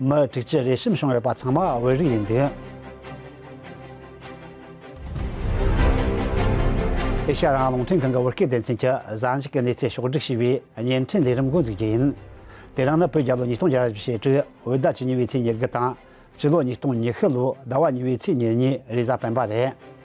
མི་དྲུག་ཅུ་རེ་གསུམ་བྱུང་ཡོད་པ་ཚང་མ་བོད་རིགས་ཡིན་འདུག། ཨེ་ཤ་ཡ་རང་རླུང་འཕྲིན་ཁང་གི་བོད་སྐད་སྡེ་ཚན་གྱི་བཟང་ཕྱོགས་ཀྱི་གནས་ཚད་ཕྱོགས་བསྒྲིགས་བྱས་པའི་བརྙན་འཕྲིན་ལས་རིམ་མགོ་འཛུགས་རྒྱུ་ཡིན། དེ་རིང་ནི་བོད་རྒྱལ་ལོ་ཉིས་སྟོང་བརྒྱ་བཞི་བྱེ་དྲུག་འོད་ཟླ་བཅུ་གཉིས་པའི་ཚེས་ཉེར་དགུ་དང། སྤྱི་ལོ་ཉིས་སྟོང་ཉི་ཤུ་ལོ་ཟླ་བ་གཉིས་པའི་ཚེས་ཉེར་གཉིས་རེས་གཟའ་སྤེན་པ་རེད།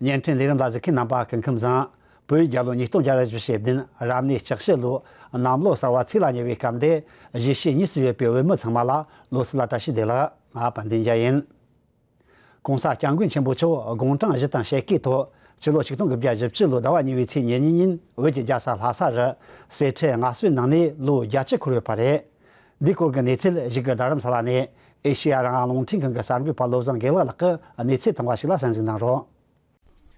བརྙན་འཕྲིན་ལས་རིམ་ལ་གཟིགས་མཁན་རྣམ་པ་སྐུ་ཁམས་བཟང་པོས་རྒྱལ་ལོ་ཉིས་སྟོང་བརྒྱ་རེ་བཞི་ཞེ་བདུན་རབ་གནས་ལྕགས་བྱི་ལོའི་གནམ་ལོ་གསར་བ་ཚེས་ལ་ཉེ་བའི་སྐབས་འདི་གཞིས་བྱེས་གཉིས་སུ་ཡོད་པའི་བོད་མི་ཚང་མ་ལ་ལོ་གསར་ལ་བཀྲ་ཤིས་བདེ་ལགས་པ་འདི་འཇལ་ཡིན། གོང་ས་སྐྱབས་མགོན་ཆེན་པོ་མཆོག་དགུང་གྲངས་བཞི་དང་ཕྱེད་ཀའི་ཐོག་སྤྱི་ལོ་ཆིག་སྟོང་དགུ་བརྒྱ་བཞི་བཅུ་ལོའི་ཟླ་བ་གཉིས་པའི་ཚེས་ཉེར་གཉིས་ཉིན་བོད་ཀྱི་རྒྱལ་ས་ལྷ་ས་རུ་སེར་ཁྲའི་སྔགས་སྲོལ་ནང་ནས་ལོ་བརྒྱ་བཅུ་འཁོར་བའི་བར་རེད། འདིའི་སྐོར་གྱི་གནས་ཚུལ་གཞིགས་སྐབས་རྡ་རམ་ས་ལ་ནས་ཨེ་ཤེ་ཡ་རང་དབང་རླུང་འཕྲིན་ཁང་གི་གསར་འགོད་པ་བློ་བཟང་དགེ་ལགས་ལགས་ཀྱིས་གནས་ཚུལ་དང་པོ་ཞིག་ལ་གསན་གཟིགས་གནང་རོགས།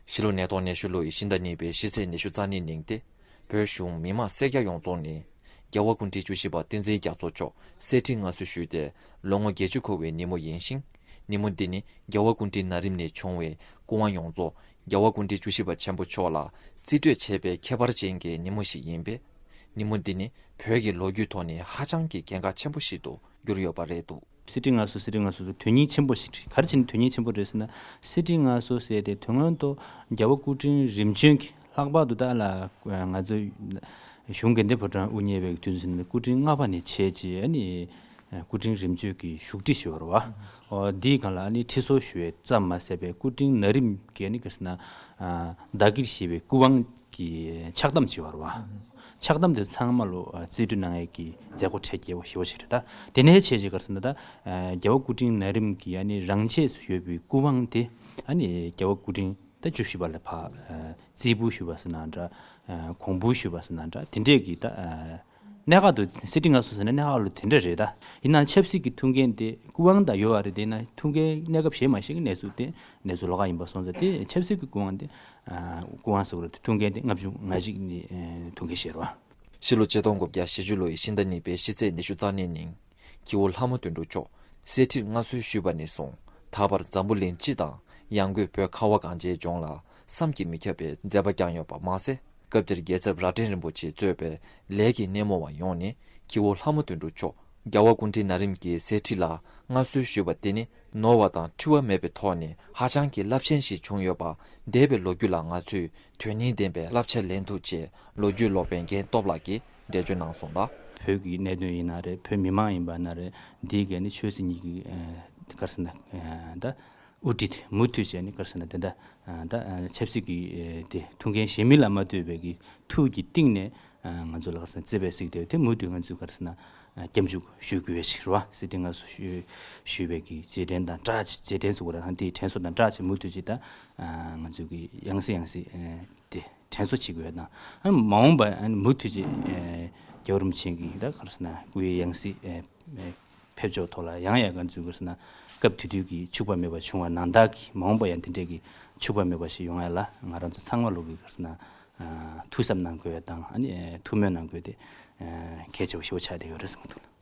གཞིས་ལུས་ནད་ཐོག་ནད་ཤུལ་ལོ་ཡི་ཤིང་རྟ་གཉིས་པའི་གཞིས་རྩེ་ནད་ཤུལ་རྩ་ནད་གླིང་སྟེ། བོད་གཞུང་མི་དམངས་སེར་སྐྱ་ཡོངས་རྫོགས་ནས། རྒྱལ་བ་སྐུ་ཕྲེང་བཅུ་བཞི་པ་བསྟན་འཛིན་རྒྱ་མཚོ་མཆོག་གསེར་ཁྲི་མངའ་གསོལ་ཞུས་ཏེ་ལོ་ངོ་བརྒྱད་ཅུ་འཁོར་བའི་ཉིན་མོ་ཡིན་ཞིང། ཉིན་མོ་འདི་ནི་རྒྱལ་བ་སྐུ་ཕྲེང་ན་རིམ་ནས་བྱུང་བའི་སྐུ་དབང་ཡོངས་རྫོགས་རྒྱལ་བ་སྐུ་ཕྲེང་བཅུ་བཞི་པ་ཆེན་པོ་མཆོག་ལ་རྩིས་སྤྲོད་བྱེད་པའི་ཁྱད་པར་ཅན་གྱི་ཉིན་མོ་ཞིག་ཡིན་པས། ཉིན་མོ་འདི་ནི་བོད་ཀྱི་ལོ་རྒྱུས་ཐོག་ནས་ཧ་ཅང་གི་གལ་འགག་ཆེན་པོ་ཞིག་ཏུ་གྱུར་ཡོད་པ་རེད་འདུག། གསེར་ཁྲི་ལྔ་སོ་གསེར་ཁྲི་ལྔ་སོ་སོ་དོན་སྙིང་ཆེན་པོ་ཞིག་རེད་ག་རེ་བྱས་ནས་དོན་སྙིང་ཆེན་པོ་རེད་ཟེར་ན། གསེར་ཁྲི་ལྔ་སོ་ཟེར་ཏེ་དོན་སྔོན་དུ་རྒྱལ་བོ་སྐུ་ཕྲེང་རིམ་བྱོན་གྱིས་ལྷག་པར་དུ་ཏཱ་ལ་ང་ཚོ་གཞུང་དགེ་ལྡན་ཕོ་བྲང་དབུ་བརྙེས་པའི་དུས་ཟིན་ནས་སྐུ་ཕྲེང་ལྔ་པ་ནས་བྱས་རྗེས་ཨ་ནི་སྐུ་ཕྲེང་རིམ་བྱོན་གྱིས་བཞུགས་ཁྲི་ཞེས་བར་བ་འདིའི་སྒང་ལ་ཨ་ནི་ཁྲི་སོ་ཞུ་བའི་རྩ་མ་ཟད་པས་སྐུ་ཕྲེང་ན་རིམ་གྱིས་ཨ་ནི་ག་ཟེར་ན། བདག་གིར་བཞེས་པའི་སྐུ་དབང་ཀྱི་ཕྱག་བསྡམ་བྱེད་བར་བ། ཕྱག་བསྡམ་དེ་ཚང་མ་ལོ་ཙཱའི་སྤྲུལ་སྣང་ངེས་ཀྱི་མཛད་སྒོ་ཁྲལ་རྒྱལ་བ་ཞི་བ་ཆེ་གྲས་དང་དེ་ནས་བྱས་རྗེས་གར་སོང་ད་ལྟ་རྒྱལ་བ་སྐུ་ཕྲེང་ན་རིམ་གྱི་རང་ཆས་སུ་ཡོད་པའི་སྐུ་དབང་དེ་རྒྱལ་བ་སྐུ་ཕྲེང་ད་བཅུ་བཞི་པ་ལ་བརྩིས་འབུལ་ཞུས་པ་སོགས་ན་འདྲ་གོང་འབུལ་ཞུས་པ་སོགས་ན་འདྲ་དེ་འདྲས་ཀྱི་ད། གནད་འགག་ཏུ་གསེར་ཁྲི་ལྔ་སོང་ཟེར་ན་གནད་འགག་ལོ་དེ་འདྲ་རེད་ད། ཡིན་ནའང་ཆབ་སྲིད་ཀྱི་ཐུགས་འགན་དེ་སྐུ་དབང་དང་ཡོད་བ་རེད་དེ་ཡིན་ན་ཐུགས་འགན་གནས་སྐབས་གཞན་མ་གཞན་གྱི་གནས་ཚུལ་དེ་གནས་ཚུལ་ལོག་ཁ་ཡིན་པ་སོང་ཟེར་དེ་ཆབ་སྲིད་ཀྱི་སྐུ་དབང་དེ། སྐུ་དབང་ཟེར་བ་རེད་དེ་ཐུགས་འགན་དེ་ལྔ་བཅུ་ང་གཅིག་ནི་ཐུགས་འགན་བཞེས་རོགས། ཕྱི་ལོ་ཕྱི་སྟོང་དགུ་བརྒྱ་ཞེ་བཅུ་ལོ་ཡི་ཕྱི་ཟླ་གཉིས་པའི་ཕྱི་ཚེས་ཉི་ཤུ་རྩ་གནས་ཉིན། ཁྱེའུ་ལྷ་མོ་དུད་འགྲོ་མཆོག་གསེར་ཁྲིར་མངའ་གསོལ་ཞུས་པ་ནས་བཟུང་ད་བར་འཛམ་བུ་གླིང་སྤྱི་དང་ཡང་སྒོས་བོད་ཁ་བ་གངས་ཅན་ལྗོངས་ལ་བསམ་གྱིས་མི་ཁྱབ་པའི་མཛད་པ་བསྐྱངས་ཡོད་པ་མ་ཟད་སྐབས་དེར་རྒྱལ་ཚབ་རྭ་སྒྲེང་རིན་པོ་ཆེས་གཙོས་པའི་ལས་ཀྱི་སྣེ་མོ་བ་ཡོངས་ནས་ཁྱེའུ་ལྷ་མོ་དུད་འགྲོ་མཆོག་རྒྱལ་བ་སྐུ་ཕྲེང་ན་རིམ་གྱི་གསེར་ཁྲི་ལ་མངའ་གསོལ་ཞུས་པ་དེ་ནི་ནོར་བ་དང་འཁྲུལ་བ་མེད་པའི་ཐོག་ནས་ཧ་ཅང་གི་རླབས་ཆེན་ཞིག་བྱུང་ཡོད་པ་འདས་པའི་ལོ་རྒྱུས་ལ་ང་ཚོས་དོན་སྙིང་ལྡན་པའི་བསླབ་བྱ་ལེན་ཐུབ་ཅེས་ལོ་རྒྱུས་ཀློག་པའི་རྒན་སྟོབས་ལགས་ཀྱིས་འགྲེལ་བརྗོད་གནང་སོང་ལ། བོད་ཀྱི་གནད་དོན་ཡིན་ན་རེད་བོད་མི་མང་ཡིན་པ་ན་རེད་འདིའི་སྐད་ནི་ཆོས་སྲིད་གཉིས་ཀྱི་སྐར་ཟེར་ན་འདའ། དབུ་ཁྲིད་མུ་མཐུད་བྱས་ནས་སྐར་ཟེར་ན་དེ་འདའ། ད་ཆབ་སྲིད་ཀྱི་དེ་ཐུགས་འགན་གཞན་མི་ལ་མ་ལྟོས་པའི་གི་ཐུགས་ཀྱི་གཏིང་ནས་ང་ཚོ་ལ་སྐར་ཟེར་ན་བརྩེ་བས་གཟིགས་དེ་དེ་མུ་མཐུད་ང་ཚོས་སྐར་ཟེར་ན་སྐྱབས་འཇུག་ཞུ་དགོས་ཡོད་ཅིག་རེད་བ་སྲིད་དེ་ང་ཚོ་ཞུས་པའི་གི་རྗེས་དྲན་དང་བཀྲ་ཆེ་རྗེས་དྲན་སུ་གོ་ར་ཐང་དེའི་དྲན་གསོ་དང་བཀྲ་ཆེ་མུ་མཐུད་ཅིག་ད་ང་ཚོས་གི་ཡང་སྲིད་ཡང་སྲིད་དེ། དྲན་གསོ་བྱེད་དགོས་པ་དང། མ་འོངས་པར་མུ་མཐུད་ཅིག་རྒྱ་བོད་རིམ་བྱོན་གྱི་ད་གར་སོང་ན་སྐུའི་ཡང་སྲིད་ཕེབས་ཕྱོགས་ཐོག་ལ་ཡང་ཡང་གར་འཛུལ་གར་སོང་ན་སྐབས་དུས་དུས་ཀྱི་འཕྱུགས་པ་མེད་པ་བྱུང་བ་ནང་བདག་གིས་མ་འོངས་པར་ཡང་དེ་འདྲས་ཀྱི་འཕྱུགས་པ་མེད་པ་ཞིག་ཡོང་ཡ་ལ་ང་རང་ཚོ་ཚང་མ་ལུགས་ཀྱི་གར་སོང་ན་ཐུགས་གཟབ་གནང་དགོས་པ་དང་ཐུགས་སྨོན་གནང་དགོས་དེ་གལ་ཆེ་བ་ཞེ་བོ་ཆགས་བསྡད་ཡོད་རེད་བསམ་གྱི་འདུག་ལ།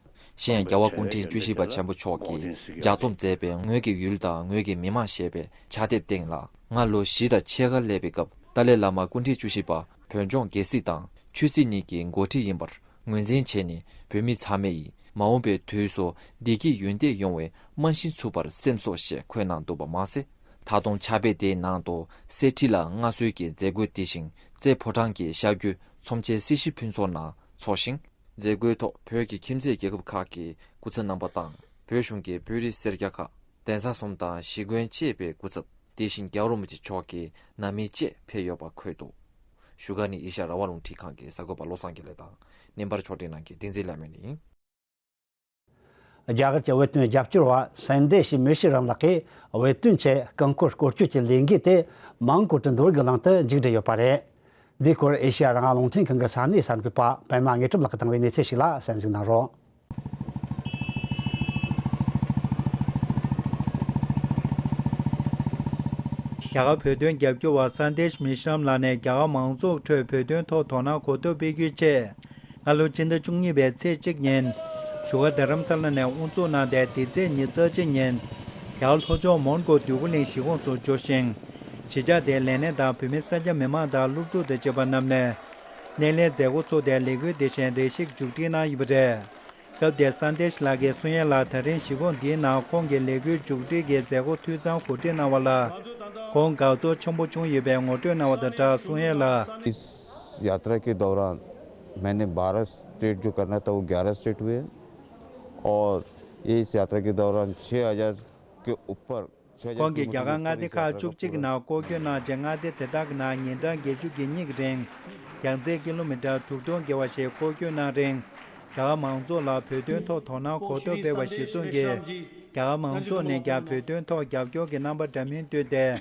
གཞན་ཡང་རྒྱལ་བ་ཀུན་འཕྲིན་བཅུ་བཞི་པ་ཆེན་པོ་མཆོག་གིས་ལྗགས་རྩོམ་མཛད་པའི་ངོས་ཀྱི་ཡུལ་དང་ངོས་ཀྱི་མི་དམངས་ཞེས་པའི་ཕྱག་དེབ་སྟེང་ལ་སྔར་ལོ་བཞི་དང་ཕྱེད་ཀ་སླེབས་པའི་སྐབས་ཏཱ་ལའི་བླ་མ་ཀུན་འཕྲིན་བཅུ་བཞི་པ་བོད་ལྗོངས་རྒྱལ་སྲིད་དང་ཆོས་སྲིད་གཉིས་ཀྱི་འགོ་ཁྲིད་ཡིན་པར་ངོས་འཛིན་བྱས་ནས་བོད་མི་ཚང་མས་མ་འོངས་པའི་དུས་སུ་བདེ་སྐྱིད་ཡུན་བརྟན་ཡོང་བའི་རྨང་གཞི་འཚུབ་པར་སེམས་སོ་ཞེས་འཁོད་གནང་འདུག་པ་མ་ཟད་ད་དུང་ཕྱག་དཔེ་དེའི་ནང་དུ་གསེར་ཁྲི་ལ་མངའ་གསོལ་གྱི་མཛད་སྒོའི་སྟེང་ཤིང་རྩེ་ཕོ་བྲང་གི་ཤར་རྒྱུད་ཚོམས་ཆེན་སྲིད་ཞི་ཕུན་ཚོགས་ནང་འཚོགས་ཤིང། མཛད་སྒོའི་ཐོག་བོད་ཀྱི་ཁྱིམ་མཚེས་རྒྱལ་ཁབ་ཁག་གི་སྐུ་ཚབ་རྣམ་པ་དང་བོད་གཞུང་གི་བོད་རིགས་སེར་སྐྱ་ཁག་གདན་ས་གསུམ་དང་གཞིས་དགོན་བཅས་པའི་སྐུ་ཚབ་དེ་བཞིན་རྒྱ་རོ་མུ་ཅི་མཆོག་གི་ནང་མི་བཅས་ཕེབས་ཡོད་པ་འཁོད་འདུག་བཞུགས་སྒར་ནི་ཨེ་ཤ་ར་བ་རླུང་འཕྲིན་ཁང་གི་གསར་འགོད་པ་བློ་བཟང་རྒྱ་ལེགས་དང་སྣེ་འབར་མཆོག་སྤྲིན་ནང་གི་ཏིང་འཛིན་བླ་མེད་ནི། རྒྱ་གར་གྱི་བོད་དོན་རྒྱབ་སྐྱོར་བ་སེང་འདྲེ་ཞེས་མོས་ཤེས་རམ་ལགས་ཀྱིས་བོད་དོན་ཆེད་རྐང་བཀོད་སྐོར་སྐྱོད་ཀྱི་ལས་འགུལ་དེ་མང་བཀོད་དུ་འགྲོ་དགོས་ལམ་དུ་མཇུག་སྒྲིལ་ཡོད་པ་རེད། འདིའི་སྐོར་ཨེ་ཤེ་ཡ་རང་རླུང་འཕྲིན་ཁང་གི་ས་གནས་གསར་འགོད་པ་པད་མ་དངོས་གྲུབ་ལགས་ཀྱིས་བཏང་བའི་གནས་ཚུལ་ཞིག་ལ་གསན་གཟིགས་གནང་རོགས། རྒྱ་གར་བོད་དོན་རྒྱབ་སྐྱོར་བ་སེང་འདྲེ་ཞེས་མོས་ཤེས་རམ་ལགས་ནས་རྒྱ་གར་མང་ཚོགས་ཁྲོད་བོད་དོན་ཐོག་དོ་སྣང་གོ་ཐོབ་སྤེལ་རྒྱུའི་ཆེད། སྔ་ལོ་སྤྱི་ཟླ་བཅུ་གཉིས་པའི་ཚེས་གཅིག་ཉིན། བཞུགས་སྒར་རྡ་རམ་ས་ལ་ནས་དབུ་འཛུགས་གནང་སྟེ་དེ་ཚེས་ཉིན་རྩ་ཆེན་ཉིན། རྒྱའུ་ལྷོ་ཕྱོགས་མོན་གྷོ་དུས་འཁོར་གླིང་གཞིས་ཁོངས་སུ་འབྱོར་ཞིང། གཞིས་ཆགས་དེའི་ལས་སྣེ་དང་བུད་མེད་ས་སྐྱ་མི་མང་དང་སློབ་ཕྲུག་དང་བཅས་པ་རྣམས་ནས། སྣེ་ལེན་མཛད་སྒོ་ཚོགས་ཏེ་ལས་འགུལ་འདི་བཞིན་རེ་ཞིག་མཇུག་སྒྲིལ་གནང་ཡོད་པ་རེད། སྐབས་དེར་སངས་ཏེས་ལགས་ཀྱིས་སུན་ཡན་ལགས་ད་རིང་གཞིས་ཁོངས་འདིའི་ནང་ཁོང་གི་ལས་འགུལ་མཇུག་སྒྲིལ་གྱི་མཛད་སྒོ་འཐུས་ཚང་གོ་སྒྲིག་གནང་བ་ལ། ཁོང་དགའ་ཚོར་ཆེན་པོ་བྱུང་ཡོད་པའི་ངོ་སྤྲོད་གནང་བ་དང་སྦྲགས་སུན་ཡན་ལགས། ཡ་ཏྲ་ཀི་དོག་རན། སྨན་ནི་བྷ་རཱ་སྟྲེ་ཏུ་ཀར་ན་ཏཱ་ཨུ་གྷ་རཱ་སྟྲེ་ཏུ་ཨེ། ཨོར་ཨེ་སི་ཨ་ཏྲ་ཀི་དཱུ་ར་མཆེ་ཨ་ཡར་ཀི་ཨུ་པར་མཆེ་ཨ་ཡར་ཁོང་གིས་ཀི་རྒྱ་མུ་གར་ཀི་མངའ་ཏི་སྡེ་ཁག་བཅུ་གཅིག་གི་ནང་སྐོར་སྐྱོད་གནང་རྗེས་མངའ་སྡེ་དེ་དག་གི་ནང་ཉིན་གྲངས་བརྒྱད་ཅུ་གྱི་སྙིགས་རེངས་རྒྱང་ཚད་ཀི་ལོ་མི་ཀྲར་དྲུག་སྟོང་བརྒལ་བ་ཞིག་སྐོར་སྐྱོད་གནང་རིང། རྒྱ་གར་མང་ཚོགས་ལ་བོད་དོན་ཐོག་དོ་སྣང་གོ་ཐོབ་སྤེལ་བ་ཞིག་གསུངས། རྒྱ་གར་མང་ཚོགས་ནས་ཀྱང་བོད་དོན་ཐོག་རྒྱབ་སྐྱོར་གྱི་རྣམ་པ་འདྲ་མིན་བཏོད་དེ།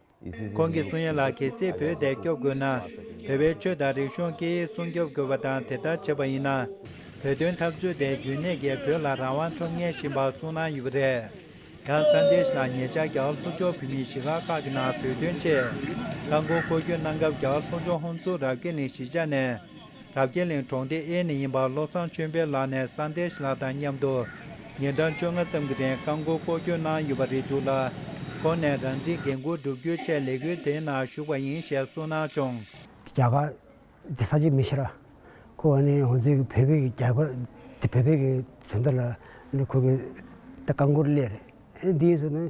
ཁོང་གིས་སུན་ཡོན་ལགས་ཁྱེད་ཚོས་བོད་དེ་སྐྱོབ་དགོས་ན། བོད་པའི་ཆོས་དང་རིག་གཞུང་སྐད་ཡིག་སྲུང་སྐྱོབ་དགོས་པ་དང་དེ་ལྟར་བྱས་པ་ཡིན་ན། བོད་དོན་འཐབ་རྩོད་དེ་རྒྱུན་གནས་ཀྱིས་བོད་ལ་རང་དབང་ཐོབ་ངེས་ཞེས་འབའ་གསུང་གནང་ཡོད་པ་རེད། ཡང་ས་འདེས་ལགས་ཉེ་ཆར་རྒྱ་གར་ལྷོ་ཕྱོགས་བོད་མིའི་གཞིས་ཁག་ཁག་གི་ནང་བོད་དོན་ཆེད་ཁ་འགོ་འཁོར་སྐྱོད་གནང་སྐབས་རྒྱ་གར་ལྷོ་ཕྱོགས་ཧོན་ཙུ་རབ་གེ་ནི་གཞིས་ཆགས་ནས་རབ་རྒྱས་གླིང་གྲོང་སྡེ་ཨེ་ནས་ཡིན་པ་བློ་བཟང་ཆོས་འཕེལ་ལགས་ནས་ས་འདེགས་ལགས་དང་མཉམ་དུ་ཉིན་གྲངས་བཅོ་ལྔ་ཙམ་གྱི་རིང་རྐང་མགོ་སྐོར་སྐྱོད་གནང་ཡོད་པ་རེད་འདུག་ལ། ཁོང་ནས་རང་འཁྲིའི་འགན་འཁུར་བསྒྲུབ་རྒྱུའི་ཆེད་ལས་འགུལ་དེའི་ནང་ཞུགས་པ་ཡིན་ཞེས་གསུངས་གནང་བྱུང། རྒྱ་གར་དེ་ས་ཆ་མི་ཤེས་ར་ཁོ་བ་ནི་འོ་མཚན་གྱི་བོད་པའི་རྒྱ་གར་དེ་བོད་པའི་གི་དོན་དུ་ལ་ཁོ་གི་རྐང་མགོར་སླེབས་རེད་འདི་ཡིན་ཟེར་ན།